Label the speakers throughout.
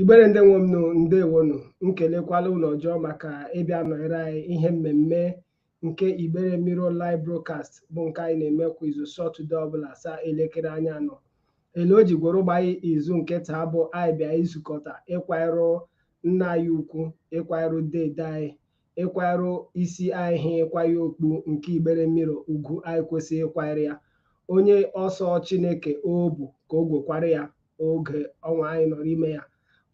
Speaker 1: igbere ndị nwe m nụ ndewonụ m kelekwala unu ọjọọ maka ịbịa nọnyere anyị ihe mmemme nke igbere mirror live broadcast bụ nke anyị na-eme kwa izu sọtụde ọbụla saa elekere anya anọ ele o ji gworo gbanye izu nke taa bụ anyị bịa izukọta ịkwanyere nna anyị ukwu ịkwanyere dede anyị ịkwarụ isi anyị ha ịkwa ya okpu nke igbere mirror ugwu anyị kwesịrị ịkwanyere ya onye ọ sọ chineke obu ka o gwekwara ya oge ọnwa anyị nọ n'ime ya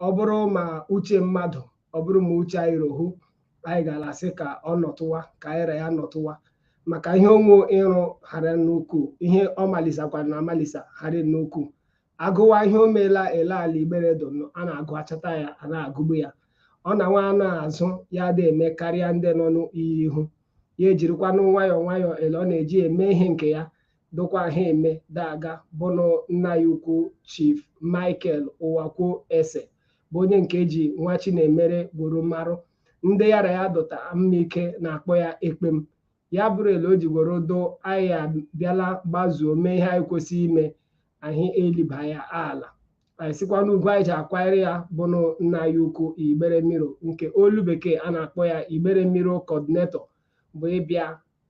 Speaker 1: ọ bụrụ ma uche mmadụ ọ bụrụ ma uche anyị rohu anyị gara asị ka ọ nọtụwa ka anyị ra ya nọtụwa maka ihe o nwe ịrụ hara nnukwu ihe ọ malisakwara na amalisa hara nnukwu a gụwa ihe o meela ele ala igbere dụnụ, a na-agụ achọta ya a na-agụgbu ya ọ na nwa anọ azụ ya dị eme karịa ndị nọ n'iyi ihu ya ejirikwanụ nwayọọ nwayọọ ele ọ na-eji eme ihe nke ya dụkwa ha eme daga bụnụ nna anyị ukwu chief michael uwakwe esse bụ onye nke e ji nwachinemere gworo marụ ndị ya ra ya dụta mma ike na-akpọ ya ekpem ya bụrụ ele o ji gworo doo anyị abịala gbazuo mee ihe anyị kwesịrị ime anyị eliba ya ala anyị sikwa n'ugwu anyị ji akwanyere ya bụnụ nna anyị ukwu igbere mirror nke olu bekee a na-akpọ ya igbere mirror coordinator bụ ịbịa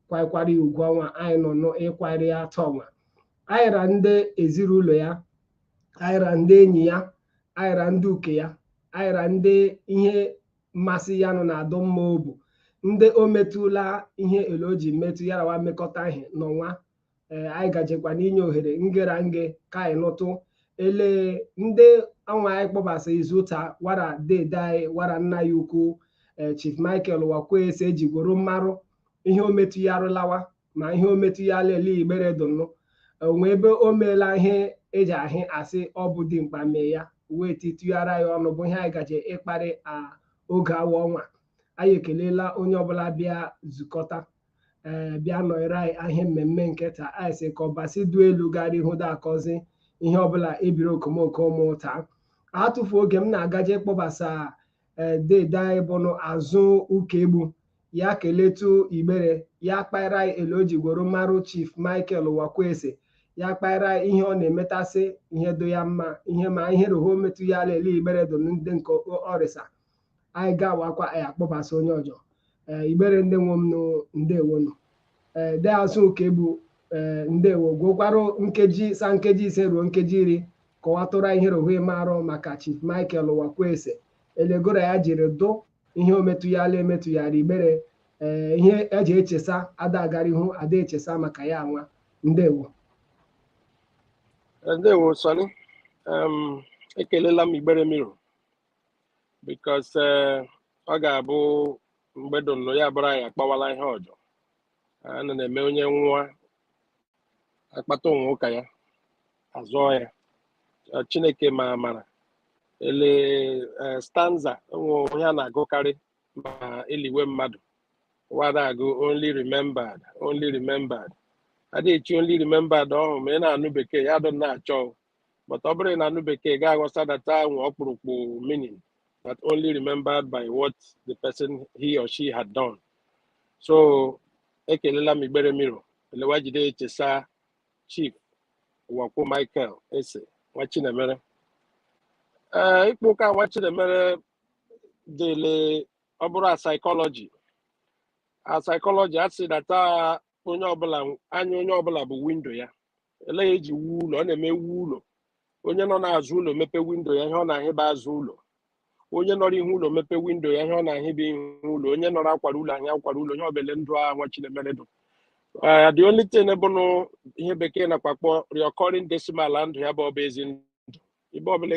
Speaker 1: kwaikwara ya ugwu ọnwa anyị nọ n'ịkwanyere ya taa ọnwa anyị ra ndị ezinụlọ ya anyị ra ndị enyi ya anyị ra ndị uke ya anyị ra ndị ihe mmasị ya nọ na-adụ mma obu ndị o metụla ihe ele o ji metụ ya rawa mmekọta ihe n'ọnwa ee anyị gajekwa n'inye ohere nge ra nge ka anyị nụtụ ele ndị ọnwa anyị kpọbasa izu taa wara dede anyị wara nna anyị ukwu ee chief michael uwakwe esse ji gworo marụ ihe o metụ ya arụlawa ma ihe o metụ ya lele igbere dụnụ o nwe ebe o meela ihe e ji ahị asị ọ bụ dimkpa mee ya wee titụghara ya ọnụ bụ ihe anyị gaje ịkparị a oge awa ọnwa anyị ekelela onye ọbụla bịa zukọta ee eh, bịa nọnyere anyị ihe mmemme nke taa anyị sị ka ọbasi du elu gara ihu da agọzi ihe ọbụla ebiri okomoko mụta atụfu oge m na-agaje kpọbasa eh, dede anyị bụnụ azụ ụkaegbu ya keletu igbere ya kpaịra anyị ele o ji gworo marụ chief michael uwakwe esse ya kpaịra ihe ọ na-emetasị ihe dụ ya mma ihe ma ihe roho metụ ya ala ele igbere dụ ndị nke ọrịsa anyị gawakwa anyị akpọbasa onye ọjọ ee igbere ndị nwe m ndewo nụ ee de azụ ụkaegbu ee ndewo gwokwarụ nkeji sa nkeji ise ruo nkeji iri kọwatụra ihe rohue marụ maka chief michael ụwakwe ese elegoro ya jiri dụ ihe o metụyala emetụyara igbere ee ihe eji echesa ada agara ihu ada echesa maka ya nwa ndewo
Speaker 2: ndewo sonny ekelela m igbere mirror because eh, ọ ga-abụ mgbe dụnụ ya bụrụ anyị akpawala ihe ọjọ a na na-eme onye nwụa akpata onwe ụka ya azụọ ya Eh, chineke ma amara ele eh, stanza o nwe ihe a na-agụkarị ma eliwe mmadụ wada agụ only remembered only remembered adịghị echi only remembered ọhụ ma ị na-anụ bekee ya dụ na-achọ but ọ bụrụ na anụ bekee ga aghọta data nwe ọkpụrụkpụ meaning that only remembered by what the person he or she had done so ekelela m igbere mirror elewa jide echesa chief ụwakwe michael ese nwa chinemere ee ịkpa ụka nwa chinemere dịle ọ bụrụ a psychology a psychology a sị data onye ọbụla anya onye ọbụla bụ windo ya ele ya eji wuo ụlọ a na-eme ewuo ụlọ onye nọ n'azụ ụlọ mepe windo ya ihe ọ na-ahị bụ azụ ụlọ onye nọrọ ihu ụlọ mepe windo ya ihe ọ na-ahị bụ ihu ụlọ onye nọrọ akwara ụlọ ahịa akwara ụlọ ihe ọ bụ ele ndụ a nwa chinemere dụ Uh, the only thing bụnụ ihe bekee na-akpọ akpọ recurring decimal na ndụ ya bụ ọ bụ ezi ndụ ibe ọbụla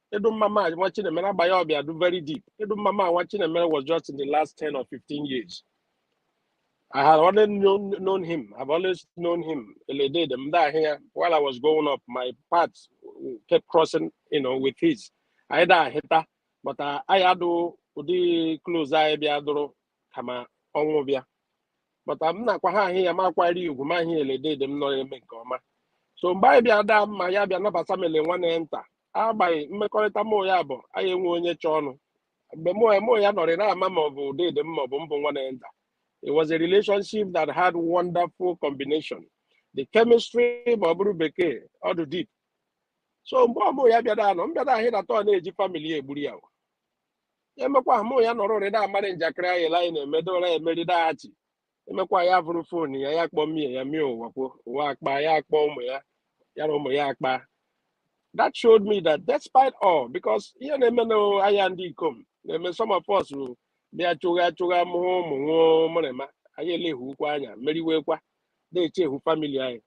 Speaker 2: Edu Mama nwa Chinemere agbanye ọ bịa dụ very deep. Edu Mama nwa Chinemere was just in the last 10 or 15 years. I had already known, known him. I've always known him. Ele dede m da here while I was growing up, my paths kept crossing, you know, with his. Anyị da ahịta, but anyị adụghị ụdị close anyị bịa dụrụ kama ọnwụ bịa. But m na-akwa ha ahịa ya ma akwari ugwu ma ahịa ele dede m nọ eme nke ọma. So mgbe anyị bịa daa mma ya bịa nabata m ele nwanne ya nta agbaghị mmekọrịta mụ ya bụ anyị enwe onye chọọ ọnụ mgbe mụ mụ ya nọrị na-ama ma ọ bụ dede m ma ọ bụ mbụ nwanne nta it was a relationship that had wonderful combination the chemistry ma ọ bụrụ bekee ọ dị deep so mgbe ọ mụ ya bịara anọ m bịara ahị data ọ na-eji family ya egburu ya o. emekwa ahụ mụ ya nọrọ ụrị na-amarị njakịrị anyị la anyị na-emedora ya emeridaghachi emekwa ya vuru phone ya ya kpọọ mie ya mie ụwakwe wa akpa ya akpọ ụmụ ya ya na ụmụ ya akpa that showed me that despite all because ihe na-eme anyị ndị ikom na-eme some of us bụ bịa chụgha chụgha mụhụ ụmụ nwụọ mụrịma anyị eleghukwa anya meriwekwa na-echehu family anyị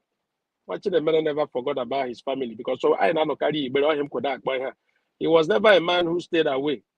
Speaker 2: nwa Chinemere never forgot about his family because so anyị na-anọkarị igbere ọhịa m kwụda akpọ ihe he was never a man who stayed away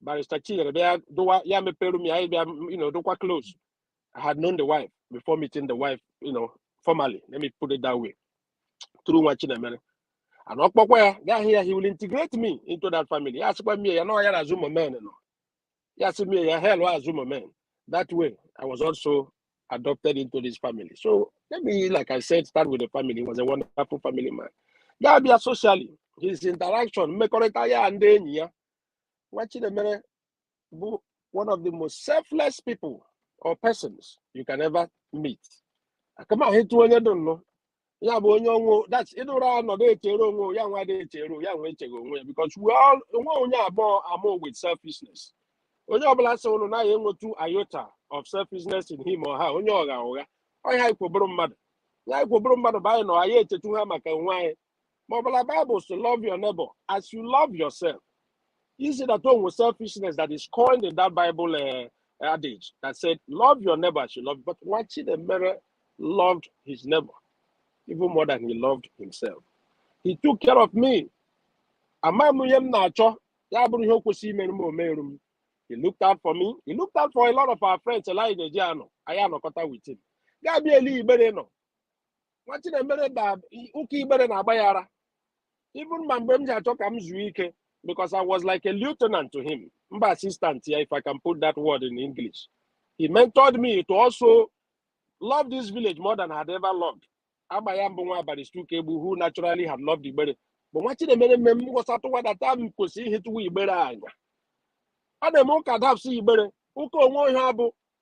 Speaker 2: barrister Chinyere bịa dụwa ya mepere m ya anyị bịa you know dụkwa close I had known the wife before meeting the wife you know formally let me put it that way through Nwachinemere and ọ kpọkwa ya gaa hụ ya he will integrate me into that family ya sịkwa mie ya nọ ya na azụ momen nọ ya sị mie ya hell azụ momen that way I was also adopted into this family. So let me, like I said, start with the family. He was a wonderful family man. Gị abịa socially, his interaction, mmekọrịta ya ndị enyi ya. Nwachinemere bụ one of the most selfless people or persons you can ever meet. Aka m ahịtụ onye dị nnọọ. ya bụ onye onwe that's ịdị ụra nọ na-echere onwe ya nwa dị echere ya nwa echeghị onwe ya because we all onwe onye abụọ amụ with selfishness onye ọbụla sị ụnụ naghị enwetu iota of selfishness in him or her onye ọgha ụgha ọnya anyị kwọ bụrụ mmadụ ya anyị kwọ bụrụ mmadụ bụ anyị nọ anyị echetu ha maka onwe anyị ma ọ bụla Bible sị love your neighbor as you love yourself you see that o nwere selfishness that is coined in that Bible uh, adage that said love your neighbor as you love but Nwachinemere loved his neighbor even more than he loved himself he took care of me ama m ihe m na-achọ ya bụrụ ihe o kwesịrị imeru m o meru m he looked out for me he looked out for a lot of our friends Elijah Ejiano anyị anọkọta with him ga-abịa eli Igbere nọ Nwachinemere da ụka Igbere na-agba ya ara even ma mgbe m ji achọ ka m zuo ike because I was like a lieutenant to him m bụ assistant ya if I can put that word in English he mentored me to also love this village more than I had ever loved agba ya m bụ nwa Barrister Ukaegbu who naturally had loved Igbere but Nwachinemere mee m ghọsatụwa that m kwesịrị ịhịtụwa Igbere anya a na-eme ụka dapsị Igbere ụka onwe onye abụ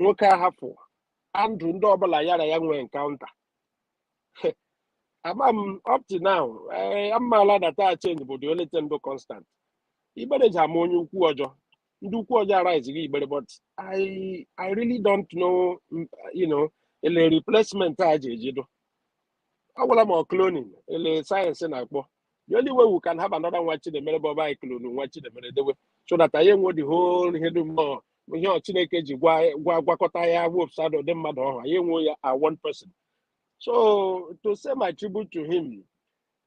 Speaker 2: nwoke a hapụ na ndụ ndị ọbụla ya na ya nwee encounter ama m up to now eh, m maala that change bụ the only thing bụ constant Igbere ji amụ onye ukwu ọjọ ndị ukwu ọjọ arise gị Igbere but i i really don't know mm, you know ele replacement a ji ejido ọ gwụla ma ọ cloning ele science na-akpọ the only way we can have another Nwachinemere bụ ọ bụ anyị clone Nwachinemere dewe so that anyị enwe the whole ihe dum ọ ihe ọ Chineke ji gwa gwa gwakọta ya wepsa ụdị mmadụ ọhụ anyị enwe ya a one person so to say my tribute to him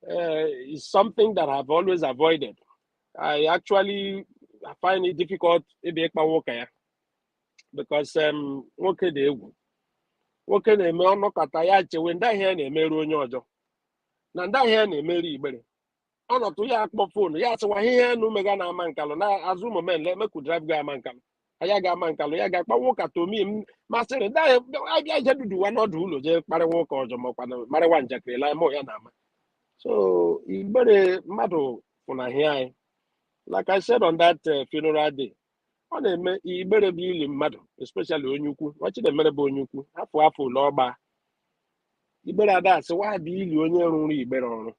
Speaker 2: uh, is something that I've always avoided. I actually find it difficult ịbịa ịkpa nwoke ya because um, nwoke dị egwu nwoke na-eme ọnọkọta ya chewe ndị ahịa ya na-emerụ onye ọjọọ na ndị ahịa na-emeri igbere ọ nọtụ ya akpọ fonu ya asịwa ihe enu mega na Amankalụ na Azụ moment le make we drive ga Amankalụ anyị aga Amankalụ ya ga kpawa ụka tomi m masịrị ndị ahịa abịa je duduwa n'ọdụ ụlọ je kparịwa ụka ọjọ makwa na marịwa njakịrị la mụ ya na-ama so igbere mmadụ fụnahịa anyị like I said on that uh, funeral day ọ na-eme igbere bụ ili mmadụ especially onye ukwu nwa Chinemere bụ onye ukwu afọ afọ ole ọ gba igbere ada asị wa bịa ili onye rụrụ igbere ọrụ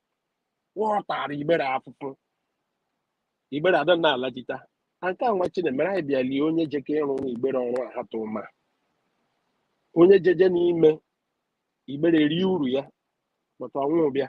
Speaker 2: wa ọ tara igbere afụfụ igbere ada na-alajita na nke a nwa Chinemere anyị bịa lie onye jeke ịrụrụ igbere ọrụ ahatụ ma onye jeje n'ime igbere rie uru ya but ọnwụ bịa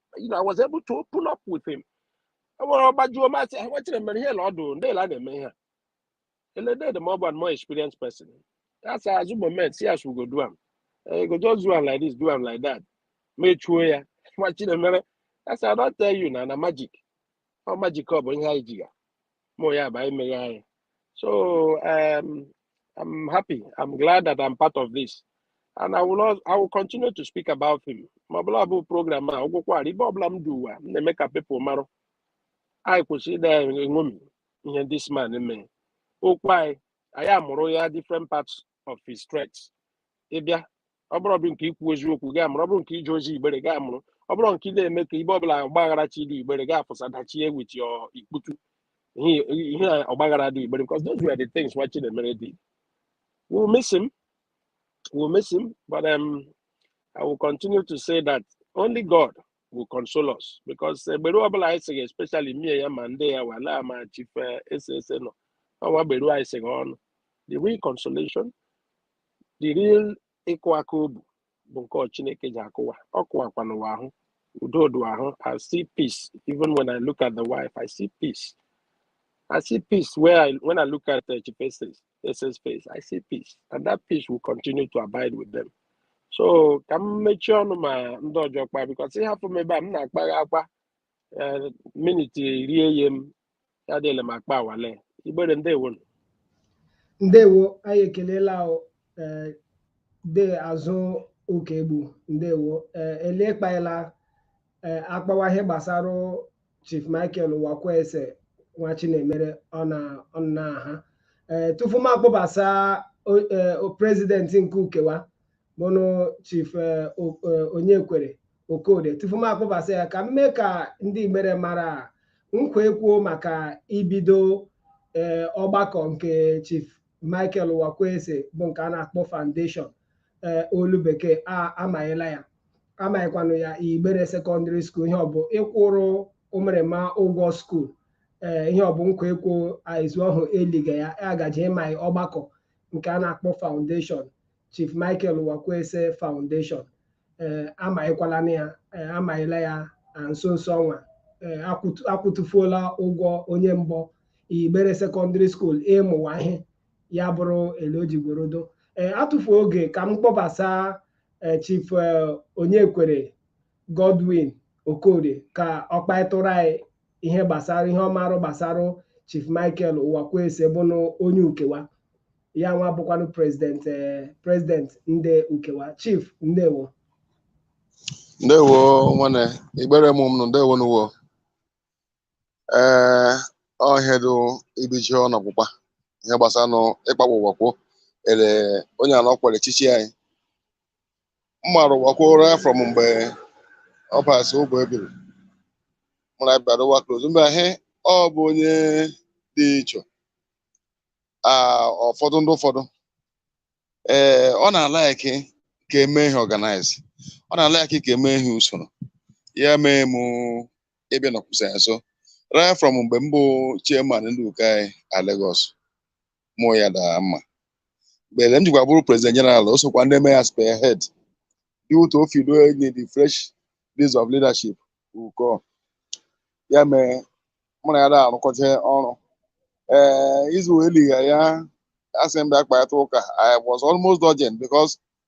Speaker 2: you know, I was able to open up with him. E nwere ọgbajuo masị ha nwetara mere ihe na ọdụ ndị la na-eme ihe a. Eledede ma ọ bụ a more experienced person. Asị Azụ moment, see as we go do am. Eh, You go just do am like this, do am like that. Mechuo ya. Nwa Chinemere, asị I don tell you na na magic. Ọ magic ọ bụ ihe anyị ji ga. Mụ ya bụ anyị meghe anyị. So um, I'm happy. I'm glad that I'm part of this. And I will, al- I will continue to speak about him. Ma ọbụla bụ program a agwụkwara ibe ọbụla m dị ụwa m na-eme ka people mara anyị kwesị ịda eṅomi ihe this man mee o kwe anyị anyị amụrụ ya different parts of his traits ị bịa ọ bụrụ ọ bụ nke ikwu eziokwu gaa mụrụ ọ bụrụ nke ije ozi igbere gaa mụrụ ọ bụrụ nke ị na-eme ka ibe ọbụla ọgbaghara chi dị igbere gaa afụsa dachie with your ikputu ihe ihe a ọgbaghara dị igbere because those were the things nwa Chinemere did we will miss him we will miss him but um, I will continue to say that only God will console us because gberu ọbụla anyị sị gị especially mie ya ma ndị ya wala ma Chief Esse Esse nọ ọ nwa gberu anyị sị gị ọnụ the real consolation the real ịkụ aka obu bụ nke ọ Chineke ji akụ wa ọ kụwakwanụ wa ahụ udo dị ahụ I see peace even when I look at the wife I see peace I see peace where I, when I look at uh, Chief Esse Esse's face. I see peace. And that peace will continue to abide with them. So ka m mechie ọnụ ma ndị ọjọ kpa because ị hafụ m ebe a m na-akpagha akpa eh, minit iri e ye m ya dịla m akpawala igbere ndewo
Speaker 1: nụ. ndewo anyị ekelela o eh, de Azụ Ụkaegbu ndewo eh, ele kpaela eh, akpawa ihe gbasara Chief Michael Uwakwe Esse nwa Chinemere ọ na ọ na ha ee tufu m akpọbasa o- ee, o- president nke ukewa bụnụ Chief ee, O- ee, Onyekwere Okode tufu m akpọbasa ya ka m mee ka ndị Igbere mara a, nkwa ekwuo maka ibido ee, ọgbakọ nke Chief Michael Uwakwe Esse bụ nke a na-akpọ foundation ee, olu bekee a amanyela ya amaghịkwanụ ya igbere sekọndịrị skuul ihe ọ bụ ịkwụrụ ụmụrịma ụgwọ skuul ee ihe ọ bụ nkwa ekwo izu ọhụ eliga ya agaji ịma ọgbakọ nke a na-akpọ foundation chief michael uwakwe esse foundation ee amaghịkwala na ya ee amaghịla ya na nso nso ọnwa ee akwụtu- akwụtụfuola ụgwọ onye mbọ igbere sekọndịrị skuul ịmụwa ihe ya bụrụ ele o ji gworodo ee atụfu oge ka m kpọbasa eh, Chief eh, Onyekwere Godwin Okorie ka ọ kpaịtụrụ anyị ihe gbasara ihe ọmarụ gbasara Chief Michael Uwakwe Esse bụnụ onye uke wa ya nwa bụkwanụ president eh, president ndị uke wa Chief ndewo ndewo
Speaker 3: nwanne Igbere mma mma nụ ndewo nụ wo ee ọhịa dị ibichi ọnụ ọgwụgwa ihe gbasara nụ ịkpagbu Uwakwe ele onye ala ọkwere echichi anyị mmarụ Uwakwe right from mgbe ọ basị ụgbọ ebiri mụ ra ya bịa dụwa close mgbe ahụ ọ bụ onye dị iche a ụfọdụ ndị ụfọdụ ee ọ na-alaiki ka e mee ihe ọganaiz ọ na-alaiki ka e mee ihe usoro ya mee mụ ebe nọkwụsị ya nso right from mgbe m bụ chairman ndị uke anyị na Lagos mụ ya daa mma mgbe m jikwa bụrụ president general o sokwa ndị mee ya spearhead dị ụtọ o fido enyi the fresh lease of leadership uke ọ ya mee mụ na ya da arụkọta ọrụ ee izu eliga ya asị m bịa kparịta ụka I was almost urgent because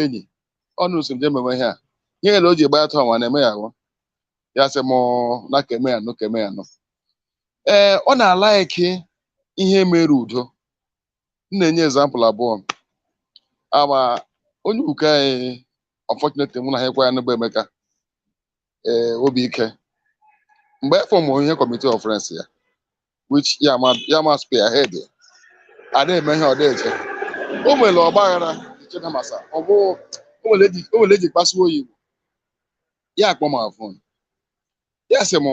Speaker 3: enyi ọnụ si m je mewe ihe a ihe ele o ji gba ya tụọ nwa na-eme ya ahụ ya sị m na ka e mee ya nụ ka e mee ya nụ ee ọ na-alaiki ihe mere udo m na-enye ezampụl abụọ ama onye uke anyị unfortunately nwụnahịkwa anyị ugbu a Emeka ee Obiike mgbe e fọmụ ihe committee of friends ya which ya ma ya ma spearhead a na-eme ihe ọ na-eje o nwere ọgba aghara iche na masa ọ bụ o nwere eji o nwere ele e ji kpasuo ya iwe ya akpọ m a phone ya sị m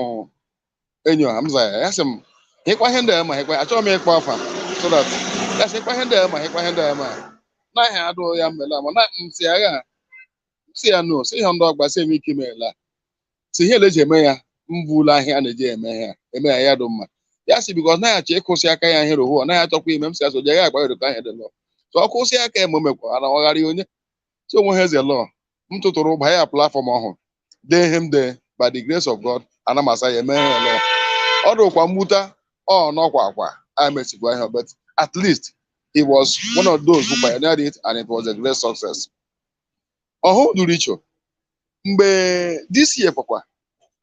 Speaker 3: enyi ọha m za ya ya sị m hịkwa ihe ndị a ma hịkwa achọghị m ịkpọ afa so that ya sị hịkwa ihe ndị a ma hịkwa ihe ndị a ma naghị adụ ya mma ele ama na m si agha m si ya no si ihe ndị ọgba si eme ike imela si ihe na-eji eme ya mbụ ụlọ ahịa a na-eji eme ya eme ya ya dị mma ya si because naghị achọ ịkwụsị aka ya ihe rohu ọ naghị achọkwa ime m si asọ jee ya agba erikọ ahịa dị lọ so ọ kwụsị aka ya ma o mekwa ana ọ ghara ya onye so onwe ha eze lọ m tụtụrụ ụba ya platfọm ọhụrụ dee ihe m dee by the grace of God ana m asa ya eme ya lọ ọ dụkwa mwute ọ nọkwa akwa a mesikwa ihe but at least he was one of those who pioneered it and it was a great success ọhụ duru icho mgbe this year kwakwa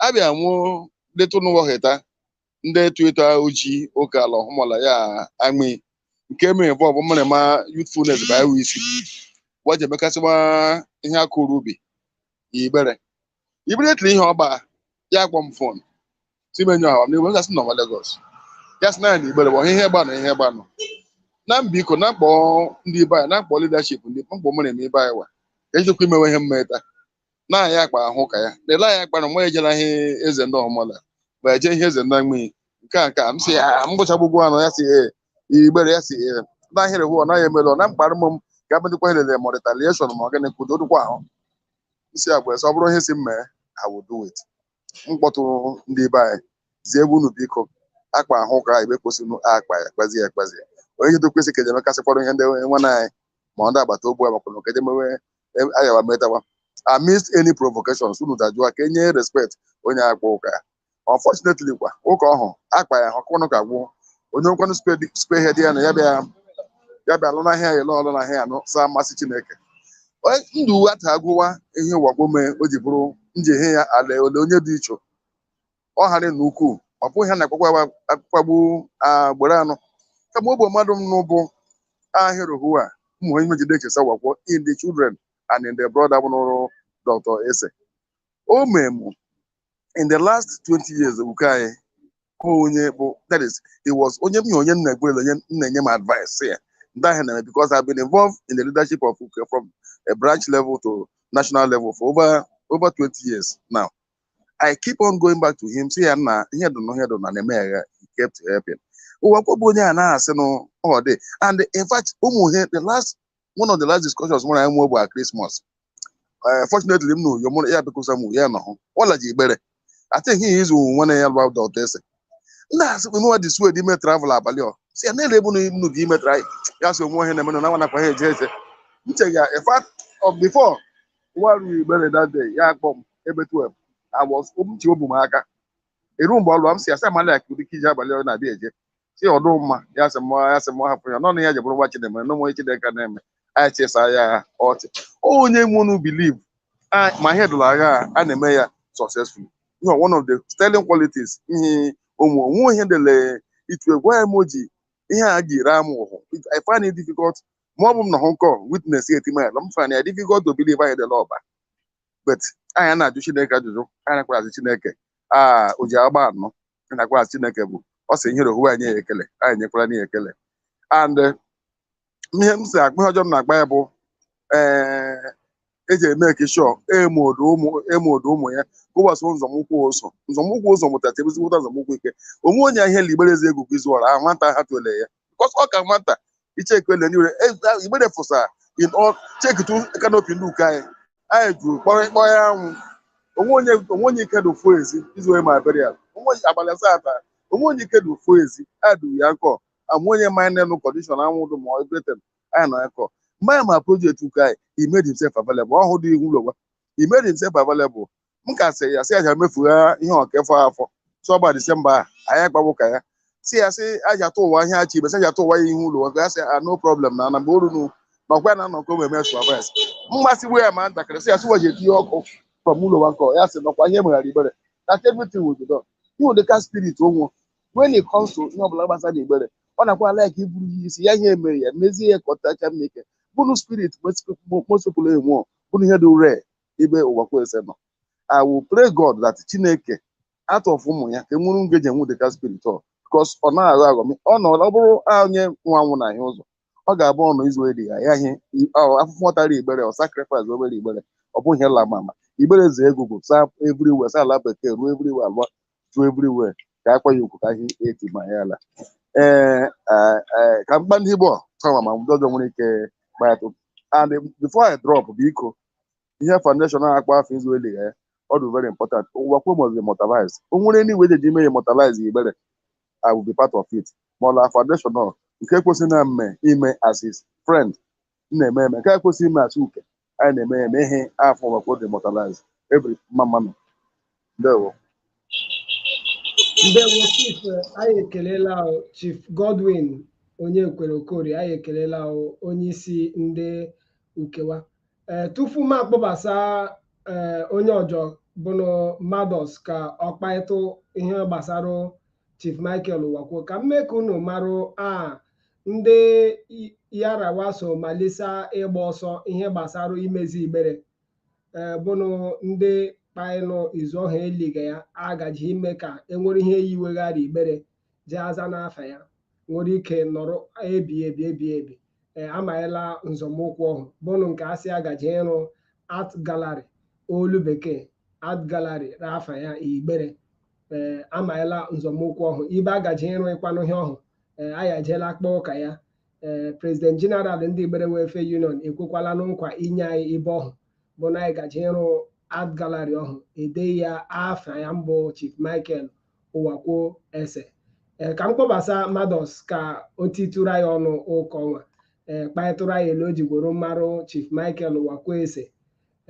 Speaker 3: abịa nwụọ detụ n'ụwa heta ndị etu etu oji oke ala ọhụmala ya amị nke mere bụ ọbụ mmere ma youthfulness bụ iwu isi wa je mekasịwa ihe a kụrụ ubi Igbere immediately ihe ọgba ya kpọ m fon timenye ọha m n'igwe gasị nọ nwa Lagos ya sị na ya na Igbere bụ ihe gbanụ ihe gbanụ na m biko na m kpọ ndị be anyị na m kpọ leadership ndị mkpọ mụ na-eme ibe anyị wa ka ejikwa imewe ihe mmeta na anyị akpa ahụ ụka ya na ele anyị akpa na mụ ejela ihe eze ndị ọmụla ma eje ihe eze ndị mmiri nke a nke a m sị ya m gụchagbugwu anụ ya sị ee Igbere ya sị ee na ahịrị hụ ọ naghị emere ọ na mkparị m m ga-abụdịkwa elele ma retaliation ma ọ gịnị kwudo dịkwa ahụ isi agwa esi ọ bụrụ ihe si m mee I will do it m kpọtụrụ ndị be anyị zie ebe unu biko akpa ahụ ụka ebe kwesịrị unu akpa ya kpazie ya kpazie ya onye ihe dokwesị ka eje mekasịkwara ihe ndị nwanne anyị ma ndị agbata obu agbakwana ka eje mewe ayawa metawa amidst any provocations unu dajụwa ka e nye respect onye akpa ụka ya unfortunately kwa ụka ọhụ akpa ya ọkụnụ ka gwụ onye nkwanụ spearhead ya na ya bịa ya bịa lụ n'ahịa ya lụọ lụ n'ahịa ya nụ saa mmasị Chineke ndụ uwe ata agụwa ihe Uwakwe mee o ji bụrụ nji ihe ya ala ole onye dị icho ọ ghara na ukwuu ọ bụghị ha na-akpakwa akpakpagbu Igbere anụ kama ọ bụ mmadụ m n'ụbụ ahịrị hụ a ụmụ onye mejide echesa Uwakwe in the children and in the brother bụ n'ụrụ Dọkịta Esse o memu in the last 20 years Uke anyị ọ onye bụ that is he was onye m onye nna Igbere onye na-enye m advice sị ya ndị ahụ na-eme because I've been involved in the leadership of Uke from a branch level to national level for over over 20 years now I keep on going back to him sị ya nna ihe dị na ihe dị na na-eme ya he kept helping Uwakwe bụ onye a na-asị na ọ dị and in fact ụmụ ihe the last one of the last discussions mụ na ya nwe bụ a Christmas Eh, fortunately m nọ Uyo mụ na ya bịakwusa m ya nọhụ ọla ji Igbere I think he is nwa na ya lụ out of Esse nna asị m nwa dị sued ime travel abalị ọ si ya na-ele ebu na nnu gị ime tra ya so onwe ihe na-eme na nwa nakwa ha eje eje m che ya in fact before nwa ruru Igbere that day ya akpọ m ebe 12 I was m ji obu m aka eru mgbe ọ lụọ m si asa mala ka ụdị iji abalị ọ na-abịa eje si ọdụ mma ya sị mma ya sị mma hapụ ya nọnụ ya jebụrụ nwa chideme na onwe chideka na-eme anyị chesa ya ọchị onye nwenu believe ma ihe dụrụ agha a, a na-eme ya successfully you know, one of the sterling qualities ihe ụmụ onwe ihe dele itu egwu ya mo ji ihe a ji raa m ahụ I find it difficult ma ọ bụ m nọhụ witness ya etima ya m find ya difficult to believe anyị dele ọba but anyị na-ajụ Chineke ajụjụ anyị nakwara ajụ Chineke a o ji agba anọ ị na-agwa Chineke bụ ọ sị ihere ohuwe anyị ekele anyị nyekwara anyị ekele and ihe m si akpa ihe ọjọ m na-akpa ya bụ ee eji eme kishọ emodo ụmụ ya kụwasị nzọmụkwụ ụzọ nzọmụkwụ ụzọ mụtacha ezigbo ụta nzọmụkwụ ike onwe onye ihe li igbere ezi egwu izu ọra ahụ nwata ha tụle ya because ọ ka nwata icheke ele niile igbere fụsa in all chekitu kanopi ndị uke anyị anyị jụrụ kpọrọ ịkpọ ya anwụ onwe onye onwe onye ike dị ofu ezi izu onye ma burial onwe onye abalị asaa taa onwe onye ike dị ofu ezi a duru ya nkọ amụ onye ma anyị nụ condition anwụ dụ ma everything anyị nọ ya kọ mgbe anyị ma project uke anyị he made himself available ọhụụ dị ihu ụlọ gwa he made himself available m ka sị ya sị aja mefugha ihe ọkefọ afọ sọ ọgba disemba a anyị agbawo ka ya si ya sị aja tụ ụwa ihe achị ibe sị aja tụ ụwa ya ihu ụlọ ọgụ ya sị a no problem na na mgbe o ruru na ọkwa ya na anọ ka o eme supervise mmasịgbu ya ma ntakịrị sị ya sị waje etinye ọkụ from Uwakwe ya sị nọkwa ihe meghara igbere that everything will be done ihe ụdịka spirit o nwe when it comes to ihe ọbụla gbasara igbere ọ na-akwa like iburu ihe isi ya ihe emere ya mezie ya ka ọ tacha mma ike bụrụ spirit mosopụla enwe bụrụ ihe dị rare ebe Uwakwe Esse nọ I will pray God that Chineke out of ụmụ ya ka enwere nge ji enwe ụdịka spirit ọhụ because ọ naghị aghọ aghọ ọ nọ ọ bụrụ onye nwa anwụ na ahịa ụzọ ọ ga-abụ ọnụ izu eri ya ya ihe afụfụ ọ tara igbere ọ sacrifice obere igbere ọ bụghị ihe lama ama igbere zee egwugwu saa everywhere saa ala bekee ruo everywhere alụọ ju everywhere ka akwa ya ukwu ka ihe eti ma ya ala ee eh, eh, ka m kpa ndị Igbo sama ma ndị ọjọ nwere ike kpaịtụ and before I drop biko ihe foundation a akpa afọ izu eliga ya ọ dị very important Uwakwe must be immortalized o nwere any way ji ime ya immortalize igbere I will be part of it ma ọla foundation ọ nke kwesịrị na m ime as his friend m na-eme eme nke a kwesịrị ime as uke anyị na-eme ya eme ihe afọ Uwakwe dị immortalized igbere mma mma nụ
Speaker 1: ndewo ndewo chief anyị ekelela chief Godwin Onyekwere Okorie anyị ekelela onye isi ndị uke wa ee eh, tupu m akpọbasa ee eh, onye ọjọ bụnụ mados ka ọ kpaịtụ ihe gbasara chief Michael Uwakwe ka m mee ka unu marụ a ndị ya ra wa so malisa ịgba ọsọ ihe gbasara imezi igbere e, bụnụ ndị kpaịnụ izu ọha eliga ya agaji ime ka enwere ihe yiweghara igbere ji aza n'afa ya nwere ike nọrọ ebi ebi ebi ebi e, amaghịla nzọmụkwụ ọhụ bụnụ nke asị agaji ịrụ art gallery olu bekee art gallery r'afa ya igbere ee amaghịla nzọmụkwụ ọhụ ibe agaji ịrụ ịkwanụ ihe ọhụ ee anyị ejeela akpa ụka ya ee President General ndị Igbere Welfare Union ekwekwala na nkwa inye anyị ibe ọhụ bụ na anyị gaje ịrụ art gallery ọhụ ede ya afa ya mbụ Chief Michael Uwakwe Esse ee ka m kpọbasa Mados ka o titụrụ anyị ọnụ ụka ọnwa ee kparịtụrụ anyị ele o jigworo mmarụ Chief Michael Uwakwe Esse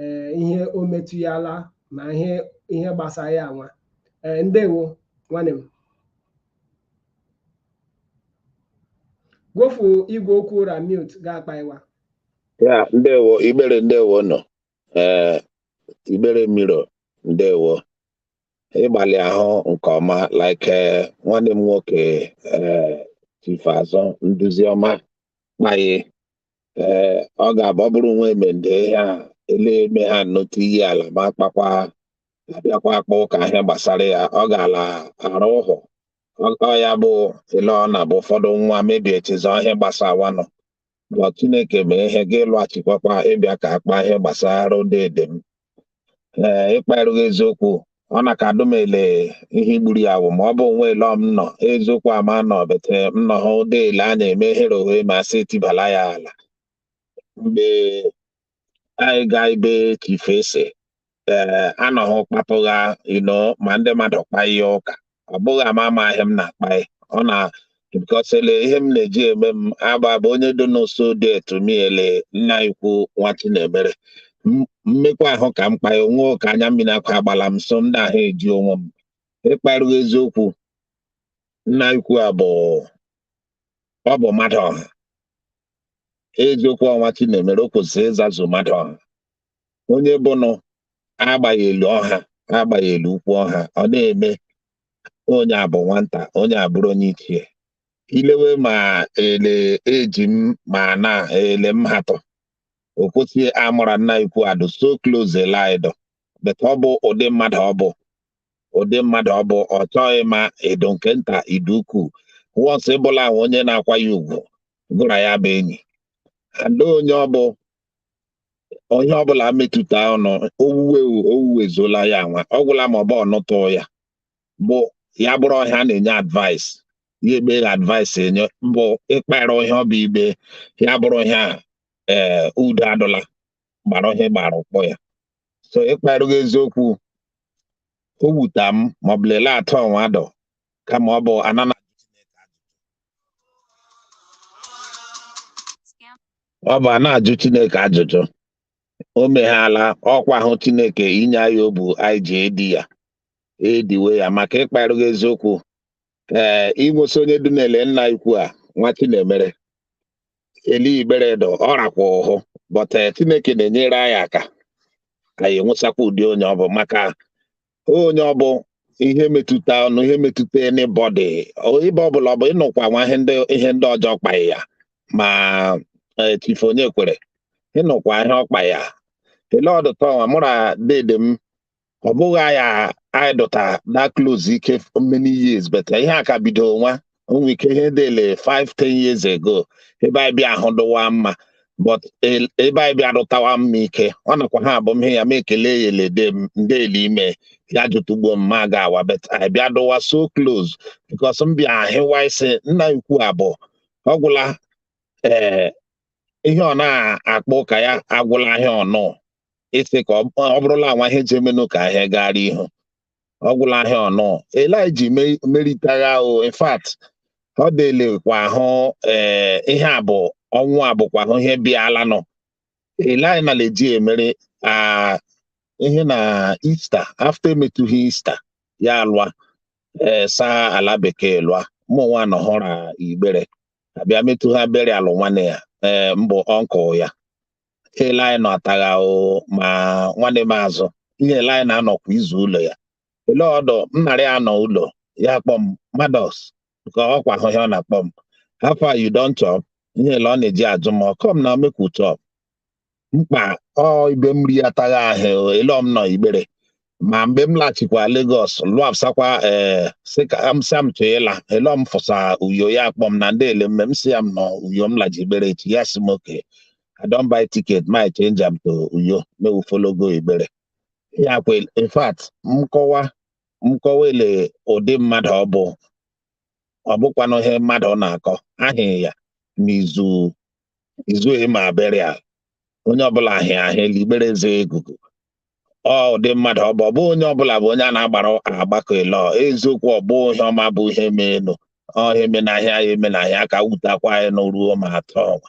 Speaker 1: ee ihe o metụ ya ala ma ihe ihe gbasara ya nwa ee ndewo nwanne m gwofu igwe okwu ụra mute ga-akpa iwa
Speaker 4: ya ndewo Igbere ndewo nọ ee Igbere miro ndewo ịgbalị ahụ nke ọma like eh, nwanne m nwoke eh, Chief Azụ nduzi ọma kpaye ee eh, ọ ga-abụ ọ bụrụ nwa emende ya ele eme ha nnọtụ iyi ala ma kpakwa abịakwa akpa ụka ihe gbasara ya ọ ga-ala arụ ụhụ ọ ya bụ ele ọ na-abụ ụfọdụ nwa mebie echezọ ihe gbasawa nọ ma Chineke mee ihe gị lụghachikwakwa ịbịa ka akpa ihe gbasara dede m ee ịkparụ ghị eziokwu ọ na ka adụ m ele ihe igburu ya wụ ma ọ bụ nwa ele m nọ eziokwu ama nọ bete m nọ hụ ụdị ele a na-eme ehere ohe ma sị etibala ya ala mgbe anyị gaa ebe Chief Esse ee anọghị kpapụgha ino ma ndị mmadụ kpa ihe ụka ọ bụghị ama ama ihe m na-akpa ya ọnwa because ele ihe m na-eji eme m agba bụ onye dị n'ụsọ dear to me ele nna ikwu nwa Chinemere M- mmekwa ahụ ka m kpa ya ọnwa ka anya mmiri akwa agbala m so m dị ahụ eji onwe m ịkparụ ghị eziokwu nna ikwu a bụ ọ bụ mmadụ ọha eziokwu ọnwa chinemere o kwesịrị ịzazu mmadụ ọha onye bụnụ agbaghị elu ọha agbaghị elu ukwu ọha ọ na-eme onye abụ nwata onye abụrụ onye ichie ilewe ma ele eji m ma na ele m hatọ o kwesịghị amụra nna ikwu adụ so close like that but ọ bụ ụdị mmadụ ọ bụ ụdị mmadụ ọ bụ ọ chọghị ịma ị dụ nke nta ị dụ ukwu once ị bụla ahụ onye na-akwa ya ugwu gụ ra ya bụ enyi and onye ọ bụ onye ọbụla metụta ọnụ owuwe owuwe zola ya nwa ọ gwụla ma ọ bụ ọnụtụ ya bụ ya bụrụ ihe a na-enye advice ya ekpe ya advice enye bụ ịkpara ihe ọ bụ ibe ya bụrụ ọhịa ee eh, udo adụla gbara ihe gbara ụkpọ ya so ịkparụ ghị eziokwu o wuta m ma ọ bụ lelee atọ ọnwa dọ kama ọ bụ anana ọ bụ a na-ajụ Chineke ajụjụ o meghala ọkwa ahụ Chineke inye anyị obu anyị ji edi ya ediwe ya maka ịkparụ ghị eziokwu ee inwesi onye dị na-ele nna ikwu a nwa chinemere eli igbere dọ ọ rakwa ahụ but eh, chineke na-enyere anyị aka anyị enwesakwa ụdị onye ọ bụ maka onye ọ bụ ihe metụta ọnụ ihe metụta anybody ibe ọbụla ọ bụ ịnụkwa nwa ihe ndị ihe ndị ọjọọ kpaghị ya ma eh, chifu onyekwere ịnụkwa ihe ọkpa ya ele ọdụtọ nwa mụra dede m ọ bụghị anyị adụta that close like many years but ihe a ka bido nwa o nwe ike ihe dele 5 10 years ago ebe anyị bịa ahụ dụwa mma but e, ebe anyị bịa dụtawa mma ike ọ nakwa ha abụ m ihe ya ma ekele ya elede m ndị ele ime ya jụtụgbuo m ma ga awa but anyị bịa dụwa so close because m bịa ahịwa isi nna ikwu abụ ọ gwụla ee eh, ihe ọ na-akpọ ụka ya agwụla ahịa ọnụ ịsị ka ọ bụrụla nwa ihe ji emenụ ka ahịa gara ihu ọ gwụla ahịa ọnụ eliji meritagha ahụ in fact ọ dịlekwa ahụ ee eh, ihe a bụ ọnwụ a bụkwa ahụ ihe bịala nọ eliji na leji emere ah, ihe na Easter after emetụgha Easter ya alụa ee eh, saa ala bekee lụa mụnwa nọhụra igbere abịa metụ ha bere alụ nwanne ya ee eh, mbụ uncle ya ele anyị nọ atagha ahụ ma nwanne m azụ ihe ele anyị na-anọ kwa izu ụlọ ya ele ọdụ m narị anọ ụlọ ya kpọ m mados ka ọ kwa ahụ ihe ọ na-akpọ m how far you don chop ihe ele ọ na-eji ajụ m come na make we chop mkpa ọ ibe m ri atagha ahụ ele m nọ igbere ma mgbe m laghachikwa Lagos lụapsakwa ee eh, sị ka m sị m chọọ ịla ele m fụsa uyo ya akpọ m na ndị ele mme m sị ya m nọ uyo m laji igbere echi ya sị m okay I don buy ticket make I change am to uyo make we follow go igbere ya kwe in fact mkọwa mkọwa ele ụdị mmadụ ọ bụ ọ bụkwanụ ihe mmadụ ọ na-akọ ahịa ya n'izu izu ịma burial onye ọbụla ahịa ahịa l'igbere eze ikuku ụdị mmadụ ọ bụ ọ bụ onye ọbụla bụ onye a na-agbara agbakọ ịlọ eziokwu ọ bụ ihe ọma bụ ihe menụ ọhịa emenahịa ya emenahịa ka wutakwa anyị n'ruo ma atọ ọnwa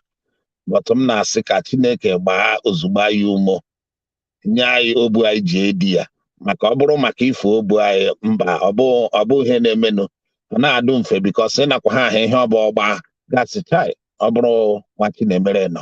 Speaker 4: but m na-asị ka Chineke gbaa ozugbo anyị ume nye anyị obu anyị ji edi ya maka ọ bụrụ maka ife obu anyị mba ọ bụ ihe na-emenụ ọ na-adụ mfe because ịnakwa ha ahụ ihe ọ bụ ọgba gasị chai ọ bụrụ nwa Chinemere nọ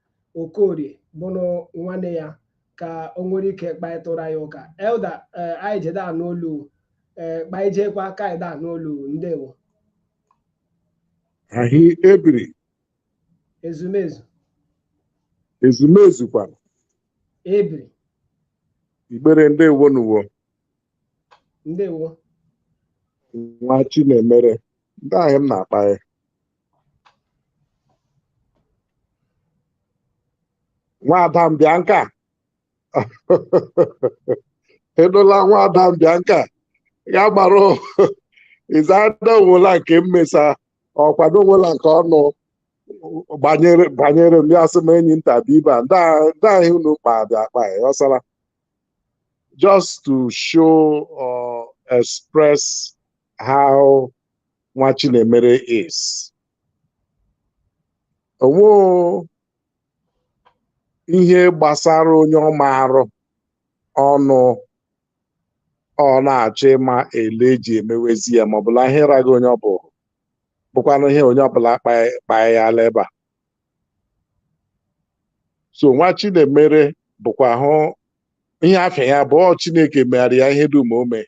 Speaker 1: okorie bụrụ nwanne ya ka o nwere ike kparịtụra ya ụka elder eh, anyị jede anụ olu eh, kpaijekwa ka anyị da anụ olu ndewo
Speaker 5: ahị ebiri ezumezu ezumezu kwara ebiri igbere ndewo nụ
Speaker 1: wo ndewo
Speaker 5: nwachinemere ndị ahụ m na-akpa ya nwada mbịa nka edola nwada mbịa nka ya gbara izada o nwela nke mmesa ọkwado o nwela nke ọnụ banyere m ya sị m enyi nta bụ ibe a ndị a- ndị ahị unu kpa dị akpa ya ọsara just to show or express how Nwachinemere is o nwe ihe gbasara onye ọ marụ ọnụ ọ na-achọ ịma ele eji emewezi ya ma ọ bụla ihe raghị onye ọ bụ bụkwanụ ihe onye ọbụla kpaa ya ala ebe a so Nwachinemere bụkwa hụ ihe afa ya bụ ọ Chineke megara ya ihe dum o mee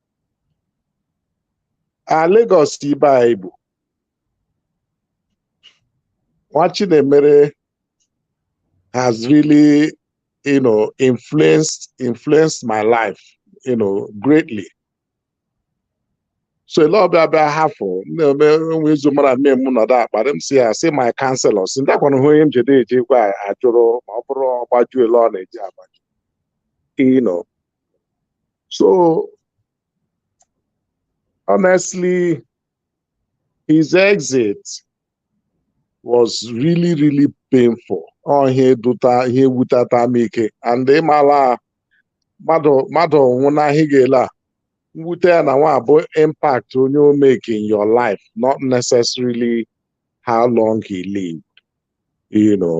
Speaker 5: a Lagos ibe anyị bụ Nwachinemere has really you know influenced influenced my life you know greatly so ele ọ bịa abịa hafụ na-eme nwe izu mara mme m nọdụ akparị m sị ya sị my counselor sị ndị akwana hụ onye m jede eji gwa ajụrụ ma ọ bụrụ ọ gbaju ele ọ na-eji agbaju you know so honestly his exit was really really painful ọ ihe dụta ihe wuteta m ike and ị mala mmadụ mmadụ nwụna ahị ga-ele a mwute ya na nwa bụ impact onye o make in your life not necessarily how long he lived you know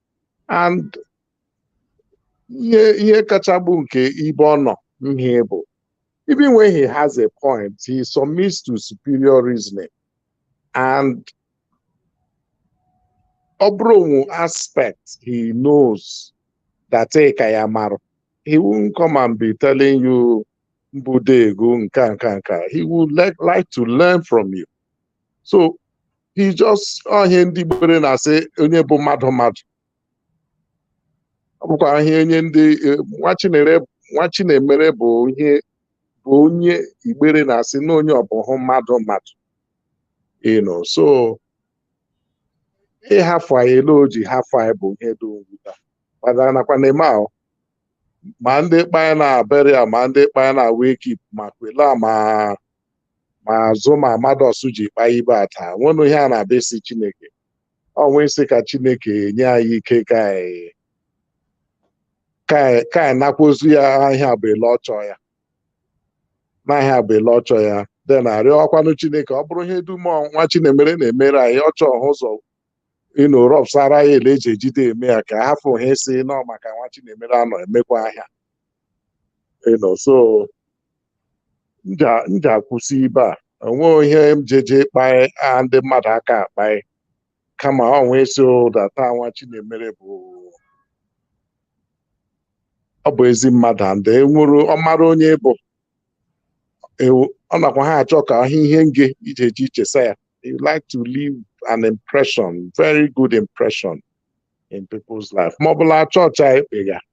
Speaker 5: and ihe ihe kacha bụ nke ibe ọ nọ ihe bụ even when he has a point he submits to superior reasoning and ọ bụrụ o nwe aspect he knows that ị ka ya marụ he won't come and be telling you mbudego nka nka nka he would like, like to learn from you so he just ọ ihe ndị Igbere na-asị onye bụ mmadụ mmadụ ọ bụkwa ihe onye ndị eh, Nwachinere Nwachinemere bụ onye bụ onye Igbere na-asị na onye ọ bụhụ mmadụ mmadụ you know so ịhafụ anyị ele o ji hafụ anyị bụ ihe dị mwute kpadara nakwa na-eme ahụ ma ndị kpanya na burial ma ndị kpanya na wake keep ma kwela ma ma azụ ma amados ji kpaa ibe a taa nwenụ ihe a na-abịa ịsị Chineke ọnwa ịsị ka chineke nye anyị ike ka anyị ka anyị ka anyị nakwazi ya a ihe a bụ ele ọ chọ ya na ihe a bụ ele ọ chọ ya dị na-arịọkwanụ chineke ọ bụrụ ihe dum Nwachinemere na-emere anyị ọ chọ ọhụ ụzọ you know rọpsara ya ele eji ejide eme ya ka hafụ ha ịsị n'ọ maka Nwachinemere anọ emekwa ihe a you know so m ji akwụsị ibe a onweghị ihe m jeje ịkpaị a ndị mmadụ aka akpaị kama ọ nwee ịsị that a Nwachinemere bụ ọ bụ ezi mmadụ and enwere ọ mara onye bụ ọ nakwa ha achọ ka ahụ ihe nge iji eji ichesa ya you like to leave an impression very good impression in people's life ma ọ bụ la church ekpe ya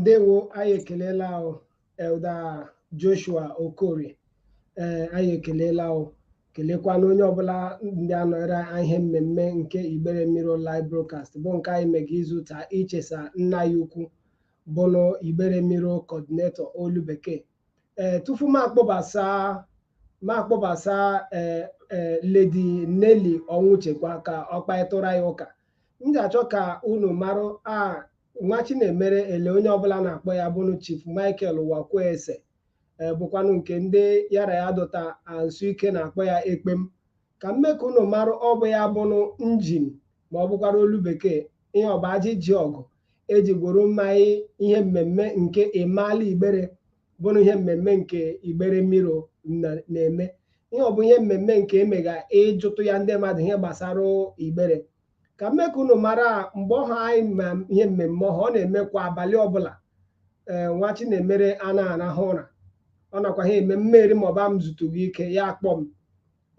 Speaker 1: ndewo anyị ekelela ahụ Elder Joshua Okorie ee anyị ekelela ahụ kelekwana onye ọbụla ndị anọrọ ihe mmemme nke Igbere Mirror live broadcast bụ nke anyị mega izu taa ichesa nna ya ukwu bụnụ Igbere Mirror coordinator olu bekee ee tufu m akpọbasa m akpọbasa ee ee Lady Nelly Ọnwụchekwa ka ọ kparịtụrụ anyị ụka m ga-achọ ka unu marụ a Nwachinemere ele onye ọbụla na-akpọ ya bụnụ Chief Michael Uwakwe Esse, bụkwanụ nke ndị ya ra ya dọta nso ike na-akpọ ya ekpem ka m mee ka unu marụ ọ bụ ya bụnụ engine ma ọ bụkwara olu bekee ihe ọba ajị ji ọgụ eji gboro mmaị ihe mmemme nke Ịmaala Igbere bụrụ ihe mmemme nke Igbere Mirror na-eme ihe ọ bụ ihe mmemme nke emega ịjụtụ ya ndị mmadụ ihe gbasara Igbere ka m mee ka unu mara mgbe ọha anyị ma ihe mmemme ọha ọ na-eme kwa abalị ọbụla ee Nwachinemere anaa arahụ ụra ọ nakwa ha eme mmeri ma ọ bụ m zutughị ike ya akpọ m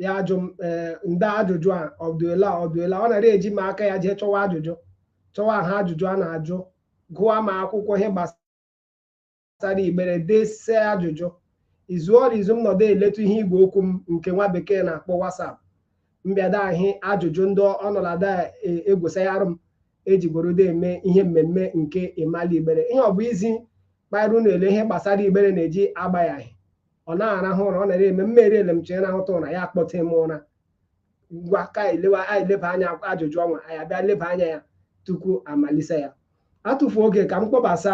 Speaker 1: ya ajụ m ee ndị ajụjụ a ọdụela ọdụela ọ nara eji m aka ya jee chọwa ajụjụ chọwa ha ajụjụ a na-ajụ gụwa ma akwụkwọ ihe gbasara gbasara Igbere dese ajụjụ izu ọrụ izu m nọdụ eletu ihe igwe okwu m nke nwa bekee na-akpọ WhatsApp m bịada ahị ajụjụ ndị ọnọlada egwusa ya arụ m ejigorodo eme ihe mmemme nke ịmali Igbere ihe ọ bụ izi kpara unu ele ihe gbasara Igbere na-eji agba ya ahị ọ na-arahụ ụra ọ nara eme mmeri ele m chee rahụta ụra ya akpọte m ụra ngwa ka elewa anyị leba anya ajụjụ ọnwa anyị abịa leba anya ya tupu a malise ya atụfu oge ka m kpọbasa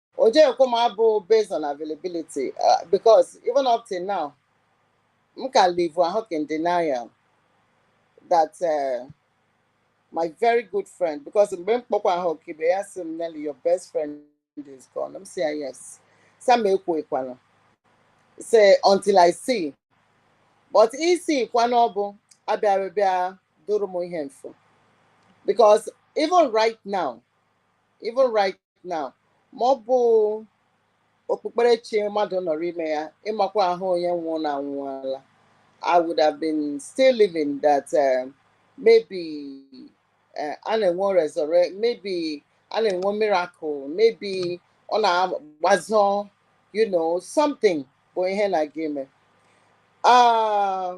Speaker 6: o jekwo m abụ based on availability uh, because even up till now m ka live ahụ in denial that uh, my very good friend because mgbe m kpọkwa ahụ kibe ya sị m Nelly your best friend is gone m sị ya yes sam ekwuekwala say until I see but ị sịkwa na ọ bụ abịara bịa duru m ihe m fụ because even right now even right now ma ọ bụ okpukperechi mmadụ nọrọ ime ya ịmakwa ahụ onye nwụrụ na anwụọla I would have been still living that uh, maybe uh, a na-enwe resurrect maybe a na-enwe miracle maybe ọ na-agbazọ you know something bụ ihe na-aga ime ah,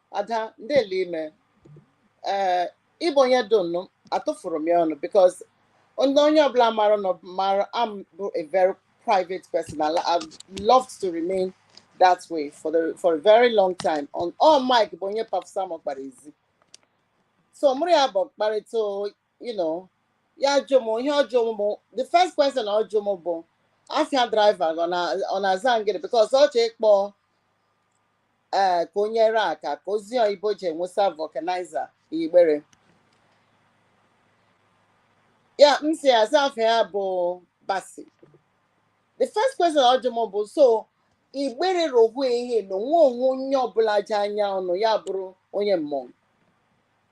Speaker 6: Ada ndele i me ee ị bụ onye dị nnụ atụfuru m ya ọnụ because onye onye ọbụla mara m mara m bụ a very private person and I've loved to remain that way for the for a very long time on all Mike bụ onye pafusa m ọkpara ezi so mụrụ ya bụ mkparịta you know ya jụ m ihe ọ jụ m bụ the first question ọ jụ m bụ afa driver ọ na- ọ na-aza ngịrị because ọ chọọ ịkpọ ee ka o nyere aka ka o zi ya ibe ọ ji enwesa vulcanizer Igbere ya m sị aza afa ya bụ Bassey the first question ọ jụ m bụ so Igbere rohu ihe na onwe onwe onye ọbụla je anya unu ya bụrụ onye Mmọng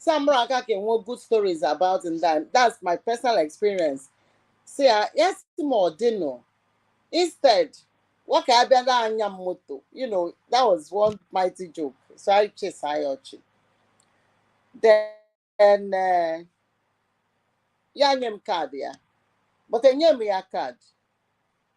Speaker 6: Samra aka can want good stories about him. That that's my personal experience. See, I yes more dinner. Instead, what can I be anya moto? You know, that was one mighty joke. So I chase Ayochi. Then uh, ya nye m kaadị ya but enye m ya kaadị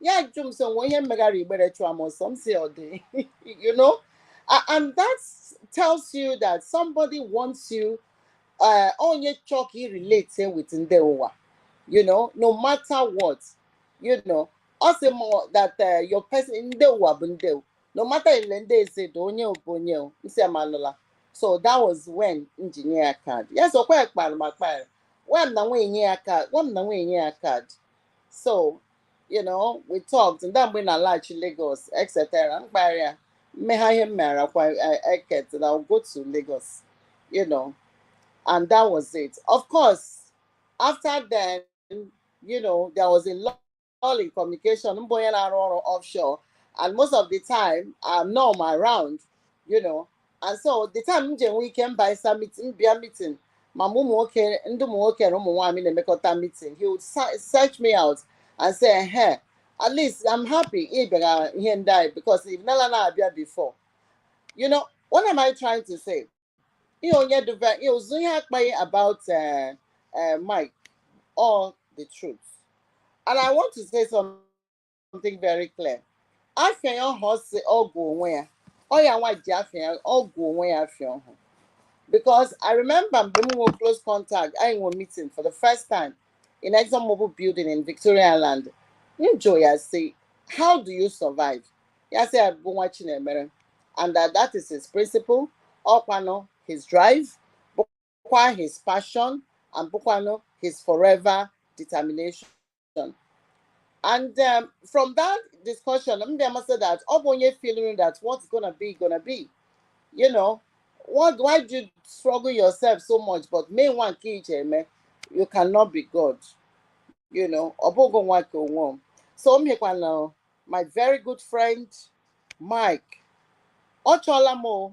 Speaker 6: ya ajụ m so nwe ihe m megara Igbere chụọ m ọsọ m sị ọ dị you know A- and that tells you that somebody wants you uh, onye chọọ ka i relate with ndị ụwa you know no matter what you know ọ sị m that uh, your person ndị ụwa bụ ndị ụwa. no matter ele ndị ezi dị onye o bụ onye o, m sị amalụla so that was when m ji nye ya card ya so kwa ya kpara ma kpara nwa m na nwunye nye ya card nwa m na nwunye nye ya card so you know we talked and mgbe m na-alaghachi Lagos etc m gbarịa m megha ihe m meghara kwa Eket and I'll go to Lagos you know and that was it of course after then you know there was a lull in communication m bụ onye na-arụ ọrụ offshore and most of the time I'm not around you know and so the time m ji enwe ike m bịasa meeting m bịa meeting ma mụ ụmụ nwoke ndị ụmụ nwoke na ụmụ nwaanyị na-emekọta meeting he would se- search me out and say ehe at least I'm happy ị bịara ihe ndị anyị because ị nala na-abịa before you know what am I trying to say ihe onye dịbe ihe ụzụ ihe akpaghị about uh, uh, Mike all the truth and I want to say something something very clear afịa ya ọha ọ sị ọ gụ onwe ya ọ ya nwa ji afịa ya ọ gụ onwe ya afịa ọhụ because i remember mgbe m nwere close contact anyị nwere meeting for the first time in exxonmobil building in victoria island m jụ ya sị how do you survive ya sị ya bụ nwa chinemere and that, that is his principle ọkwanụ his drive kwa his passion and bụkwanụ his forever determination and um, from that discussion m bịa ma sị that ọ bụ onye feeling that what's gonna be gonna be you know what why do you struggle yourself so much but mee nwa nke ị je-eme you cannot be god you know ọ bụghị nwa nke onwe m so m hịkwana my very good friend mike ọ chọọla m o,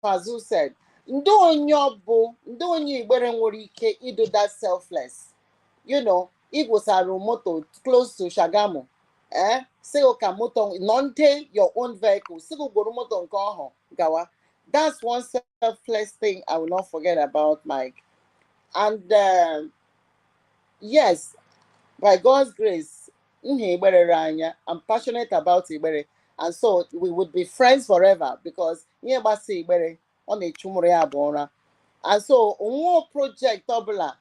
Speaker 6: Fazu said, ndị onye ọ bụ ndị onye Igbere nwere ike ịdụ that selfless you know igwosara moto close to Shagamu eh sị gọ ka moto nọ ndị your own vehicle sị gọ gworo moto nke ọhụ gawa that's one selfless thing I will not forget about Mike and uh, yes by God's grace M hị Igbere r'anya. I'm passionate about Igbere. And so we would be friends forever because ihe gbasa Igbere, ọ na-echu mụ rụ ya abụọ ụra. And so nwa project ọbụla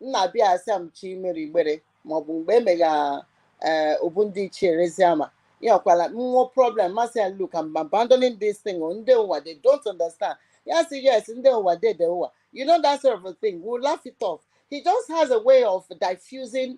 Speaker 6: m na-abịa asị m chọ imere Igbere maọbụ mgbe emegha ee obu ndị ichie Ereziama. Ya ọkwala nwe problem m asị ya look I'm abandoning this thing o ndị ụwa they don't understand. Ya sị yes ndị ụwa dey the ụwa. You know that sort of a thing. We'll laugh it off. He just has a way of diffusing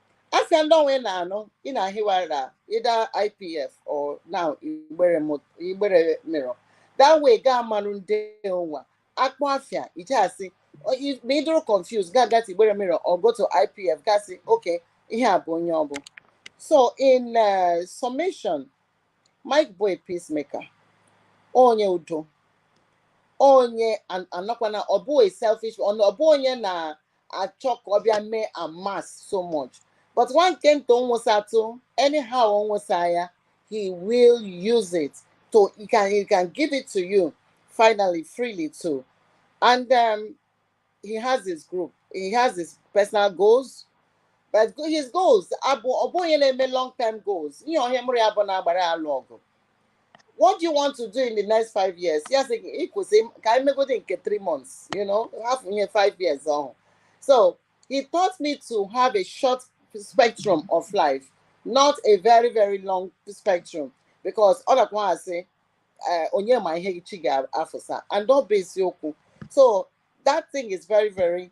Speaker 6: asị ndị ọnwa ị na-anụ ị na-ahịwa la either IPF or na igbere mo- igbere mirror that way ga amarụ ndị ụwa akpọ afịa ije asị o- i- ma ị dụrụ confused ga gata igbere mirror or go to IPF ga sị okay ihe a bụ onye ọ bụ so in uh, summation Mike bụ a peacemaker onye udo onye an- anọkwana ọ bụ a selfish ọ ọ bụ onye na achọ ka ọ bịa mee amass so much but nwa nke nta ọ nwụsatụ anyhow ọ nwụsa ya he will use it to he can he can give it to you finally freely too and um, he has his group he has his personal goals but his goals abụ ọ bụ onye na-eme long term goals ihe ọhụ mụ rụ ya abụọ na-agbara alụ ọgụ what do you want to do in the next five years ya sị gị kwụsị ka anyị megodi nke three months you know hafụ nye five years ọhụ so he taught me to have a short spectrum of life not a very very long spectrum because ọ nakwa asị eh, onye ma ihe echi ga-afụsa and ọ bụ eziokwu so that thing is very very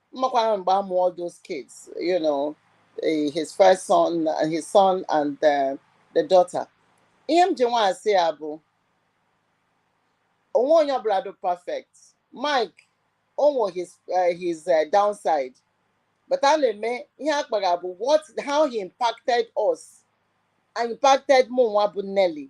Speaker 6: M makwana mgbe a mụ all those kids, you know, eh, his first son, uh, his son and the, uh, the daughter. Ihe m ji nwa asị ya bụ o nwe onye ọbụla dị perfect. Mike o nwe his uh, his uh, downside. But a na-eme ihe akpara bụ what how he impacted us and impacted mụ nwa bụ Nelly.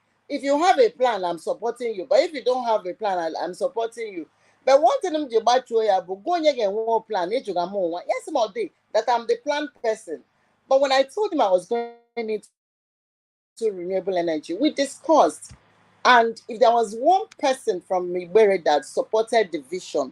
Speaker 6: if you have a plan i'm supporting you but if you don't have a plan I, i'm supporting you but one thing m ji gbachuo ya bụ gwa onye ga-enwe plan ịjụga m nwa yes ma ọ dị that i'm the plan person but when i told him i was going into renewable energy we discussed and if there was one person from Migbere that supported the vision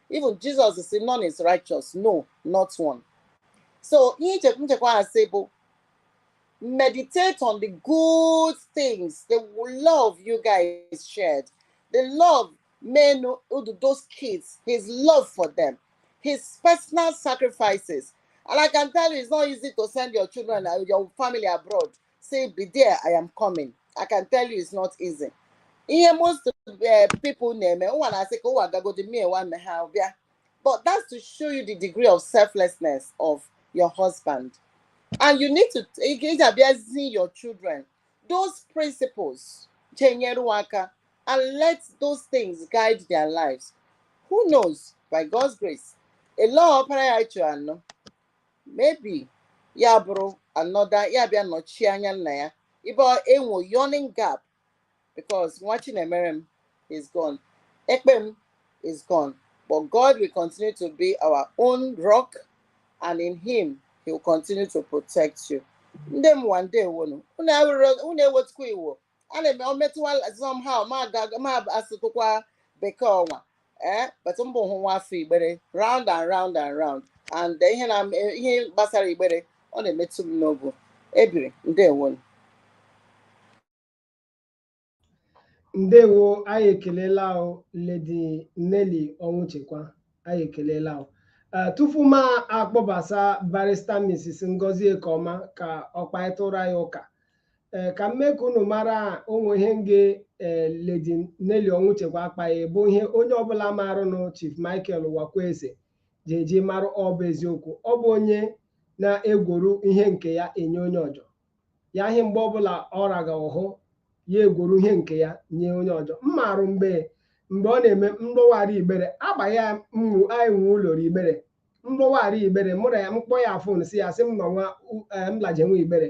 Speaker 6: even Jizọs si none is righteous no not one so ihe nchekwa ha si bụ meditate on the good things the love you guys shared the love men those kids his love for them his personal sacrifices and I can tell you it's not easy to send your children uh, your family abroad say be there i am coming i can tell you it's not easy ihe most eh, people na-eme ụwa na-asị ka ụwa gagodi mie nwanne ha bịa but that's to show you the degree of selflessness of your husband and you need to ị ga-abịa zie your children those principles chenyere aka and let those things guide their lives who knows by God's grace ele ọpara ya chụ anọ maybe ya bụrụ anọda ya bịa nọchie anya nna ya ibe e nwo yawning gap because Nwachinemere m is gone Ekpe m is gone but god will continue to be our own rock and in him he will continue to protect you ndị mụwa ndewonu unu ewetukwa iwo ana m o metụwa somehow ma aga- ma asụtụkwa bekee ọnwa ee but m bụ hụ nwa afọ Igbere round and round and round and ihe na ihe gbasara Igbere ọ na-emetụ m n'obu Ebiri ndewo
Speaker 1: ndewo anyị ekelela o Lady Nelly Ọnwụchekwa anyị ekelela o Eh, tupu m akpọbasa barrister Mrs. Ngozi Ekeọma ka ọ kparịtụrụ anyị ụka ee ka m mee ka unu mara o nwe ihe m ga-ee Lady Nelly Ọnwụchekwa akpaghị bụ ihe onye ọbụla marụnụ Chief Michael Uwakwe Esse ji eji marụ ọ bụ eziokwu ọ bụ onye na-egworu ihe nke ya enye onye ọjọ ya ihe mgbe ọbụla ọ raga ọhụ ya egworu ihe nke ya nye onye ọjọ m marụ mgbe mgbe ọ na-eme mgbọwara igbere agba ya mwu anyị nwe ụlọ igbere mgbọwara igbere mụ ra ya m kpọọ ya phone sị ya sị m nọ nwa m laje nwa Igbere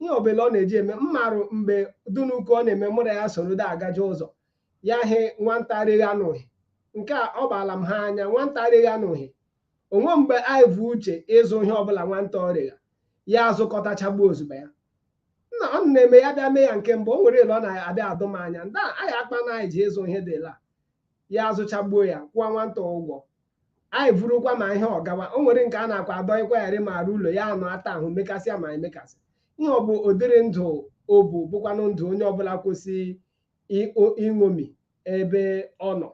Speaker 1: ihe ọbụla ọ na-eji eme m marụ mgbe dunuku ọ na-eme mụ ra ya soro da agaje ụzọ ya hụ nwanta regha ihe nke a ọ baala m ha anya nwanta regha ihe o nwe mgbe anyị vu uche ịzụ ihe ọbụla nwanta regha ya azụkọtachagbuo ozugbo ya nna ọ na-eme ya bịa mee ya nke mbụ o nwere ele ọ na-abịa adụ m anya ndị anyị akpa na anyị ji ịzụ ihe dịla ya azụchagbuo ya kwụọ nwanta ụgwọ anyị vurukwa ma ihe ọ gawa o nwere nke a na-akwa adọ ịkwagharị ma arụ ụlọ ya anụ ata ahụ mekasịa ma emekasị ihe ọ bụ ụdịrị ndụ o bu bụkwanụ ndụ onye ọbụla kwesịrị ịṅomi ebe ọ nọ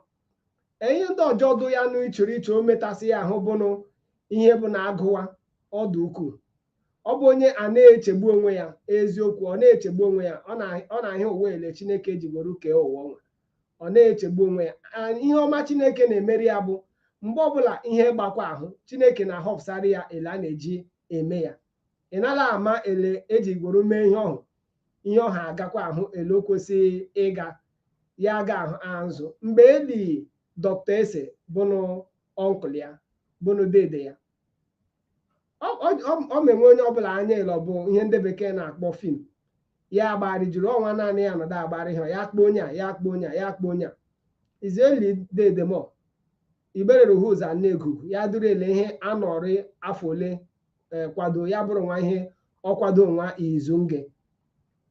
Speaker 1: ihe ndị ọjọọ dụ ya nụ ị chọrọ iche o metasị ya ahụ bụnụ ihe bụ na a gụwa ọ dụ ukwuu ọ bụ onye a na-echegbu onwe ya eziokwu ọ na-echegbu onwe ya ọ na- ọ na-ahụ ụwa ele chineke ji gworo kee ụwa ọnwa ọ na-echegbu onwe ya A- ihe ọma chineke na-emeri ya bụ mgbe ọbụla ihe gbakwa ahụ chineke na-ahọpụsara ya ele a na-eji eme ya ị nala ama ele e ji gworo mee ihe ọhụ ihe ọha agakwa ahụ ele o kwesịrị ịga ya aga ahụ azụ mgbe e li dọkta esse bụnụ ọnkụl ya bụnụ dede ya ọ mewe onye ọbụla anya ele ọ bụ ihe ndị bekee na-akpọ fim ya agbari jiri ọnwa naanị ya nọdụ agbari ha ya akpọ onye a ya akpọ onye a ya akpọ onye a izu e li dede m o igbere ruhu ụzọ na egugu ya dụrụ ele ihe a nọrị afọ ole kwado ya bụrụ nwa ihe ọ kwado nwa izu nge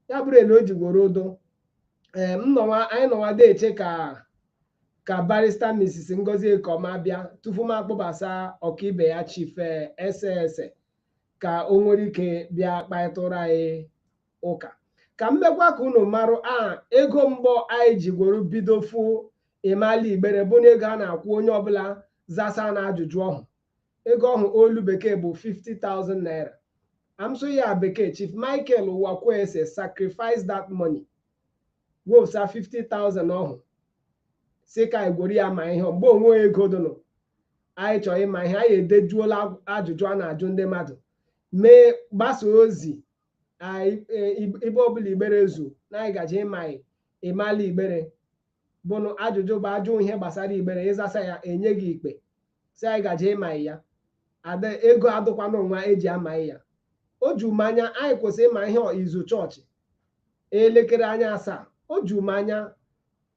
Speaker 1: ya bụrụ ele o ji gworo dụ ee m nọwa anyị nọwa na-eche ka ka barista Mrs. Ngozi Ekoma bịa tupu m akpọbasa ọkaibe ya chief eh, esse esse ka o nwere ike bịa kparịtụrụ anyị ụka ka m mekwa ka unu marụ a ego mbụ anyị ji gworo bido fụ ịmala igbere bụ na ego a na-akwụ onye ọbụla zasa na ajụjụ ọhụ ego ọhụ olu bekee bụ 50,000 naira a m sụ ya bekee chief michael uwakwe esse sacrifice that money wopụsa 50,000 ọhụ sị ka anyị gworo ya ma ihe mgbe o nwehị ego dụnụ anyị chọrọ ịma ihe anyị edejuola ajụjụ a na-ajụ ndị mmadụ mee gbasa ozi ibe ọbụla igbere zu na anyị gaji ịma ịmala igbere bụnụ ajụjụ bụ a jụọ ihe gbasara igbere ị zasa ya e nye gị ikpe si anyị gaje ịma ya ada ego adụkwana nwa e ji ama ya o ju m anya anyị kwesịrị ịma ihe izu chọọchị elekere anya asaa o ju m anya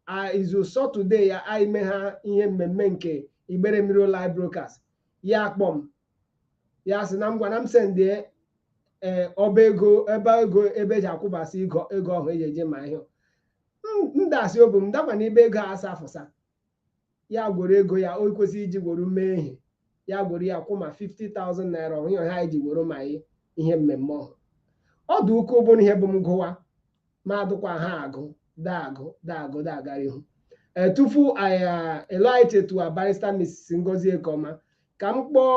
Speaker 1: a- izu sọtọde ya anyị mee ha ihe mmemme nke igbere mirror live broadcast ya akpọ m ya sị na m ngwa na m sendie ee ọba ego ebe ego ebe e ji akwụbasị ego ego ọhụ e ji eje ma ihe ndasị ọ bụ m dakwa n'ibe ego asa afụsa ya gworo ego ya o kwesịrị iji gworo mee ihe ya gworo ya kwụ ma 50,000 naira ọhụ anyị ji gworo ma ihe mmemme ọhụ ọ dị ukwuu bụrụ ihe bụ m gụwa ma adụkwa ha agụ daagụ daagụ daagara ihu e, tupu anyị to a barrister Mrs. Ngozi Ekoma ka m kpọọ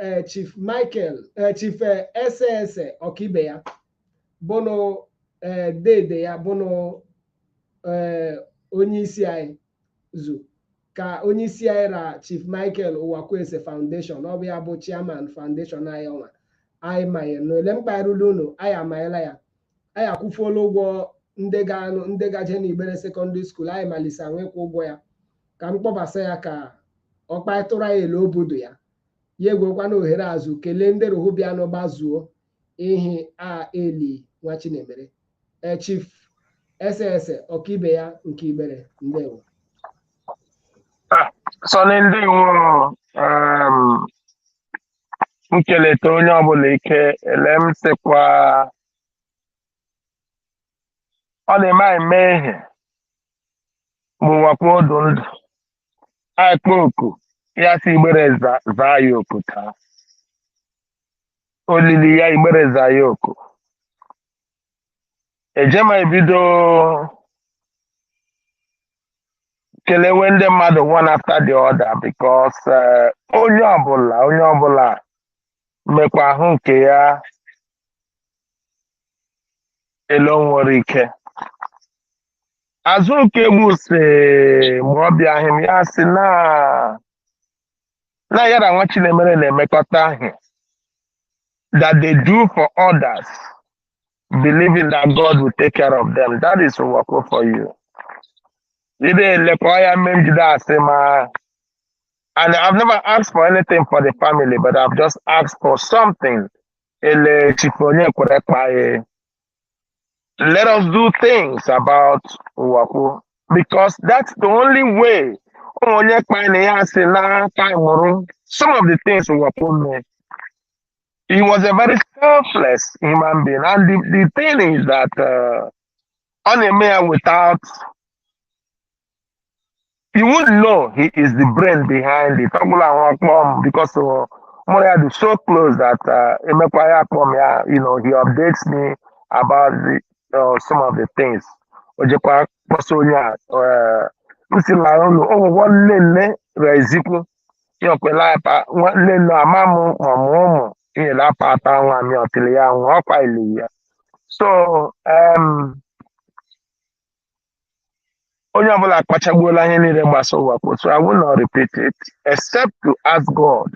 Speaker 1: e, Chief Michael e, Chief Esse Esse ọkaibe ya bụnụ ee dede ya bụnụ ee onye isi anyị zu ka onye isi anyị ra Chief Michael Uwakwe Esse Foundation ọ bụ ya bụ chairman foundation anyị ọnwa anyị manyere na ole m kparịla unu anyị amanyela ya anyị akwụfuola ụgwọ ndị gaje n'Igbere Secondary School anyị malise anwa ịkwụ ụgwọ ya ka m kpọbasa ya ka ọ kpatụrụ anyị ele obodo ya ya egwekwana ohere azụ kelee ndị rohu bịa n'ụba zuo ihi a eli nwa Chinemere e Chief Esse Esse ọkaibe ya nke Igbere
Speaker 2: ndewo Sonny ndị nwụrụ um, m keleta onye ọbụla ike ele m sịkwa ọ na-eme anyị mee ihe bụ Uwakwe ọ dụ ndụ anyị kpọọ oku ya sị Igbere za- zaa ya oku taa olili ya Igbere zaa ya oku ejema ebido kelewe ndị mmadụ one after the other because eh, onye ọbụla onye ọbụla mekwa ahụ nke ya ele o nwere ike Azụ Okegbu sị ma ọ bịaghị m ya sị na na ya ra nwa Chinemere na-emekọta ahụ that they do for others believing that God will take care of them that is Uwakwe for you ị na-elekwa ya mme njide
Speaker 7: asị ma and I've never asked for anything for the family but I've just asked for something ele Chief Onyekwere kpaye let us do things about Uwaku because that's the only way onye kpana ya si na taimụrụ some of the things Uwaku mee. He was a very selfless human being and the, the thing is that uh, ọ na-eme ya without you wouldn't know he is the brain behind it ọ bụla ahụ ọ kpọ m because uh, mụ ra ya dị so close that uh, emekwa ya akpọ m ya you know he updates me about the, uh, some of the things o jekwa kpọsa onye a uh, m si na ụlọ ụgwọ nne nne rezikwu ya okwela apa nwa- nne nne ama m ma mụ ụmụ inyere apa ata nwa m ya ọtịrị ya nwa ọkwa ili ya so um, onye ọbụla akpachagbuola ihe niile gbasa Uwakwe so I will not repeat it except to ask God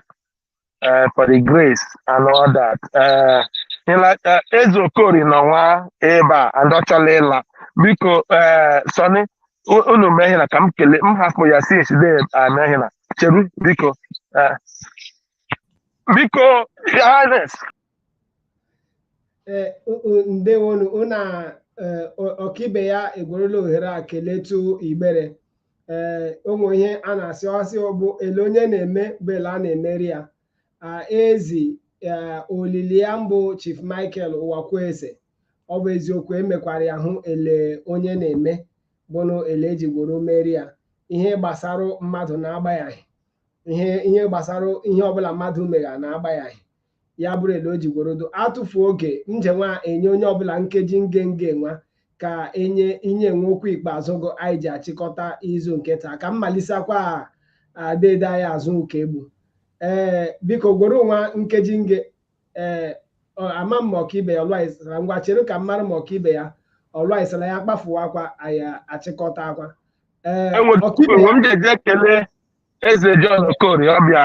Speaker 7: uh, for the grace and all that uh, uh, Eze Okorie nọ nwa ebe a and ọ chọla ịla biko uh, Sonny unu mee ihe na ka m kelee m hapụ ya sị eside ame ihe na cheru biko uh, biko highness
Speaker 1: Ee, o- o- ndewonu ụna ọkaibe ya egwerela ohere a keletu igbere ee o nwe ihe a na-asị ọ sị bụ ele onye na-eme bụ ele a na-emeri ya a ezi ee, olili ya mbụ chief michael Uwakwe Esse ọ bụ eziokwu emekwara ya hụ ele onye na-eme bụnụ ele eji gworo meri ya ihe gbasara mmadụ na-agbayaghị ihe ihe gbasara ihe ọbụla mmadụ megha na-agbayaghị ya bụrụ ele o ji gworodo atụfu oge m je nwa enye onye ọbụla nkeji nge nge nwa ka enye inye nwe okwu ikpeazụ gụ anyị ji achịkọta izu nke taa ka m malisakwa deede anyị Azụka Egbu ee biko gworo nwa nkeji nge ee ama m ma ọkaibe ya ọlụaisara ngwa chere ka m mara ma ọkaibe ya ọlụaisara ya kpafuwakwa anyị achịkọtakwa ee ọkaibe
Speaker 7: ya m je-eji ekele eze John Okorie ọbịa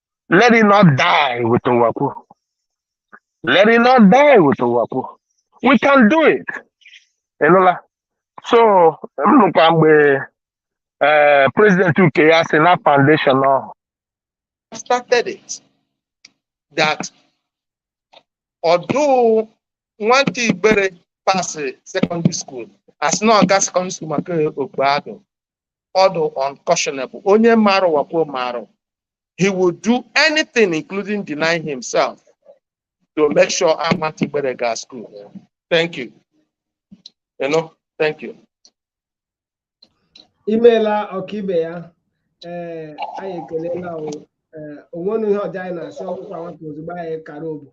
Speaker 7: let it not die with Uwakwe. Let it not die with Uwakwe. We can do it. Ị nụla. So, m nụkwa mgbe eh, president UK ya si na foundation ọhụ started it that ọ dụ nwata igbere pasịrị secondary school a sị na ọ ga secondary school maka okpogho ọ dụ unconscionable onye marụ Uwakwe marụ he will do anything including denying himself to make sure nwata Igbere ga school thank you you know thank
Speaker 1: you imeela ọkaibe ya ee anyị ekelela o nwenụ ihe ọzọ anyị na-asị ọ gwụkwa nwata ozugbo anyị kara obu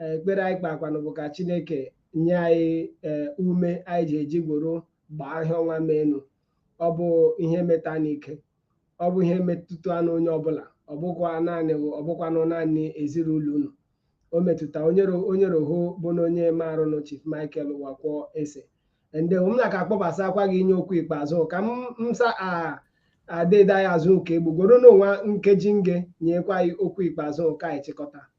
Speaker 1: Eh, ekpere anyị kpakwanụ bụ ka chineke nye anyị eh, ume anyị ji eji gworo gbaa ihe ọnwa menu ọ bụ ihe meta n'ike ọ bụ ihe metụtanụ onye ọbụla ọ bụkwa naanị ọ bụkwanụ naanị ezinụlọ unu o metụta onyere onyere ho bụ na onye maarụnụ chief michael Uwakwe Esse nde m na-aka akpọbasakwaghị inye okwu ikpeazụ ka m sa deede anyị Azụka Egbu gworonụ nwa nkeji nge nyekwa anyị okwu ikpeazụ ka anyị chịkọta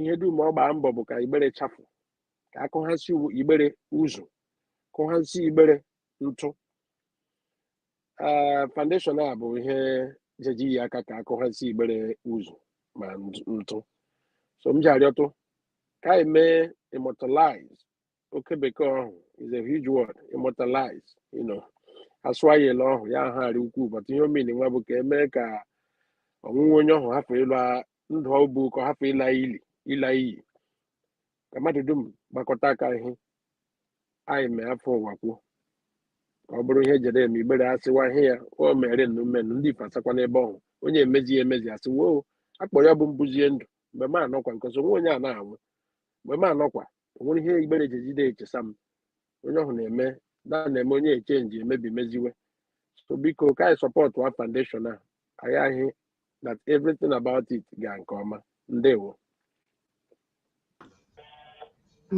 Speaker 2: ihe dum ọ gbaa mbọ bụ ka igbere chafụ ka akụghasị igbere ụzụ kụghasị igbere ntụ ee foundation a bụ ihe jeji yi aka ka akụghasị igbere ụzụ ma nt- ntụ so m ji arịọtụ ka anyị mee immortalize oke bekee ọhụ is a huge word immortalize you know asụọ ya ele ọhụ ya ahụ arị ukwuu but ihe ọ mean nwa bụ ka emee ka ọnwụ nwa onye ọhụ hapụ ịlụ a- ndụ ọ bụ ka ọ hapụ ịla ili ịla iyi ka mmadụ dum gbakọta aka ihe anyị mee afọ ụwa kwuo ka ọ bụrụ ihe jere eme igbere asịwa ihe ya o mere nnu mmenụ ndị ife asakwa n'ebe ọhụ onye emezi ya emezi asị woo akpọ ya bụ mbụzie ndụ mgbe m anọkwa nke ọzọ nwa onye a na-anwụ mgbe m anọkwa o nwere ihe igbere ji ejide echesa m onye ọhụ na-eme na na-eme onye echenji emebi meziwe so biko ka anyị sọpọtụ wa foundation a anyị ahị that everything about it ga nke ọma ndewo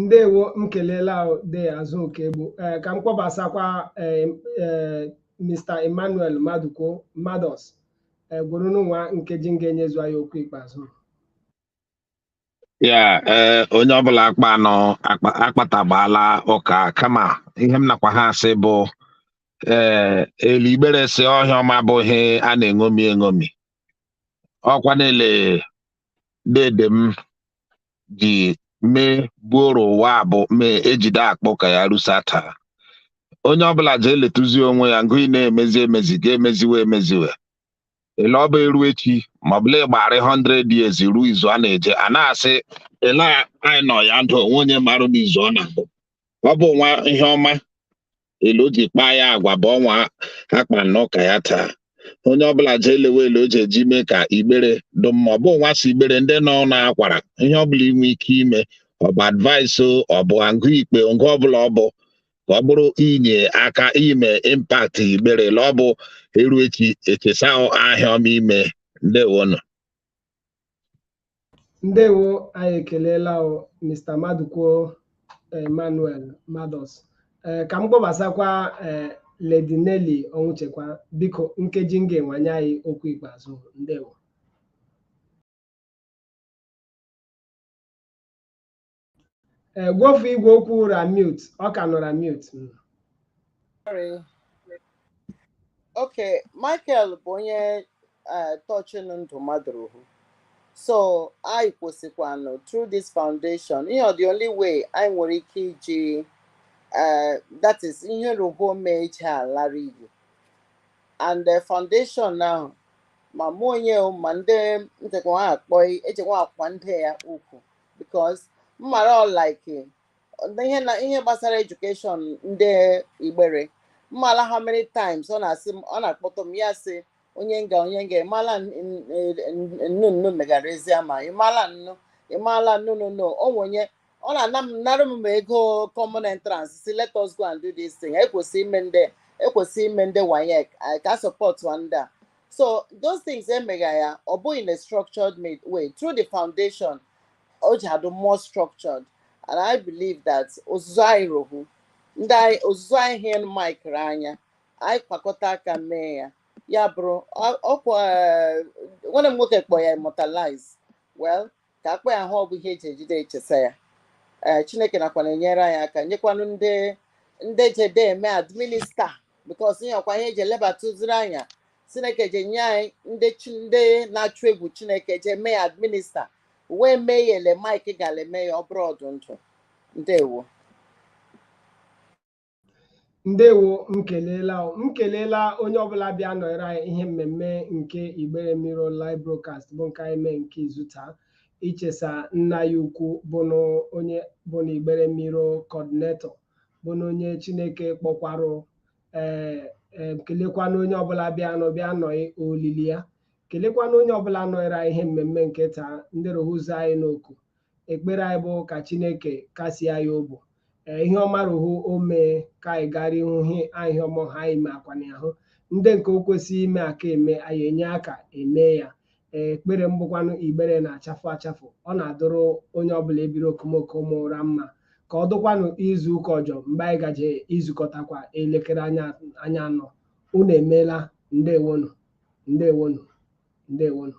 Speaker 1: ndewo m kelela ahụ de azụ oke egbu ee ka m kpọbasakwa ee ee mr emmanuel maduko mados gwuru nwa nkeji nga nyezu anyị okwu ikpeazụ
Speaker 4: ya ee eh, onye ọbụla akpa anọ akpatagbaala ụka kama ihe m nakwa ha asị bụ ee eh, ele igbere sị ọhịa ọma bụ ihe a na-eṅomi eṅomi ọkwa na ele dede m ji mee buoro ụwa bụ mee ejide akpa ụka ya rusa taa onye ọbụla ji eletụzi onwe ya ngụ ị na-emezi emezi ga-emeziwe emeziwe ele ọ bụ eru echi ma ọ bụ la ị gbara 100 years ruo izu a na-eje a na-asị ele anyị nọ ya ndụ onwe onye marụ n'izu ọ na-abụ ọ bụ nwa ihe ọma ele o ji kpaa ya agwa bụ ọnwa akpa nọ ụka ya taa onye ọbụla jee lewe ele o ji eji mee ka igbere dụ mma ọ bụ nwa si igbere ndị nọ na-akwara ihe ọbụla i nwe ike ime ọ bụ advice ọ bụ agụ ikpe ngụ ọbụla ọ bụ ka ọ bụrụ inye aka ime impact igbere la ọ bụ eru echi echesa ahịa ọma i me ndewonụ
Speaker 1: ndewo anyị ekelela Mr. Madụkwo Emmanuel Mados eh, ka m kpọbasakwa eh, Lady Nelly Ọnwụchekwa biko nkeji nga nwa nye anyị okwu ikpeazụ ndewo Eh, gwofu igwe okwu ra mute ọ ka nọra mute
Speaker 6: Mm. Sorry. Okay, Michael bụ onye eh, tọchịnụ ndụ mmadụ ruhu. So anyị kwesịkwanụ through this foundation, you know, the only way anyị nwere ike iji eh, that is ihe ruhu o mee eje alara iyi. And the foundation now ma mụ onye o, ma ndị ntakwa ha akpọ echekwa akwa ndị ya ukwu because m mara ọ like ihe na ihe gbasara education ndị igbere m mala how many times ọ na-asị m ọ na-akpọtụ m ya sị onye nga onye nga ịmala nnu nnu megara ezi ama ịmala nnu ịmala nnu nnu nnu o nwe onye ọ na-ana m nara m ego common entrance sị let us go and do this thing ekwesị ime ndị ekwesị ime ndị waec ka sọpọtụ ndị a so those things emegha ya ọ bụ in a structured ma- way through the foundation o ji adụ more structured and i believe that ozuzu anyị rohu ndị anyị ozuzu anyị hụnụ Mike ra anya anyị kpakọta aka mee ya ya bụrụ ọ- ọkwa eh, nwanne m nwoke kpọ ya immortalize well ka akpa ya ahụ ọ bụ ihe eji ejide echesa ya ee chineke nakwa na-enyere anyị aka nyekwanụ ndị ndị jede eme administer because ihe ọkwa ihe eji elebatụziri anya chineke je enye anyị ndị chi ndị na-achụ egwu chineke je eme ya administer wee mee ya ele mike gara eme ya ọ bụrụ ọ dụ ndụ ndewo
Speaker 1: ndewo m kelela m kelela onye ọbụla bịa nọrọ anyị ihe mmemme nke Igbere Mirror live broadcast bụ nke anyị mee nke izu taa ichesa nna anyị ukwu bụnụ onye bụnụ Igbere Mirror coordinator bụnụ onye Chineke kpọkwarụ ee eh, ee eh, kelekwana onye ọbụla bịa nọ bịa nọ olili ya kelekwana onye ọbụla nọrọ anyị ihe mmemme nke taa ndị rohuzo anyị n'oku ekpere anyị bụ ka chineke kasie anyị obi ee ihe ọma rụhụ o mee ka anyị gara ihu hi anyị ihe ọma ha anyị mee akwana ahụ ndị nke o kwesịrị inye aka eme anyị enye aka eme ya ee ekpere m bụkwanụ igbere na-achafụ achafụ ọ na-adụrụ onye ọbụla ebiri okomoko mụrụ mma ka ọ dụkwanụ izu ụka ọjọ mgbe anyị gaje izukọtakwa elekere anya anọ unu emeela ndewonu ndewonu ndewonu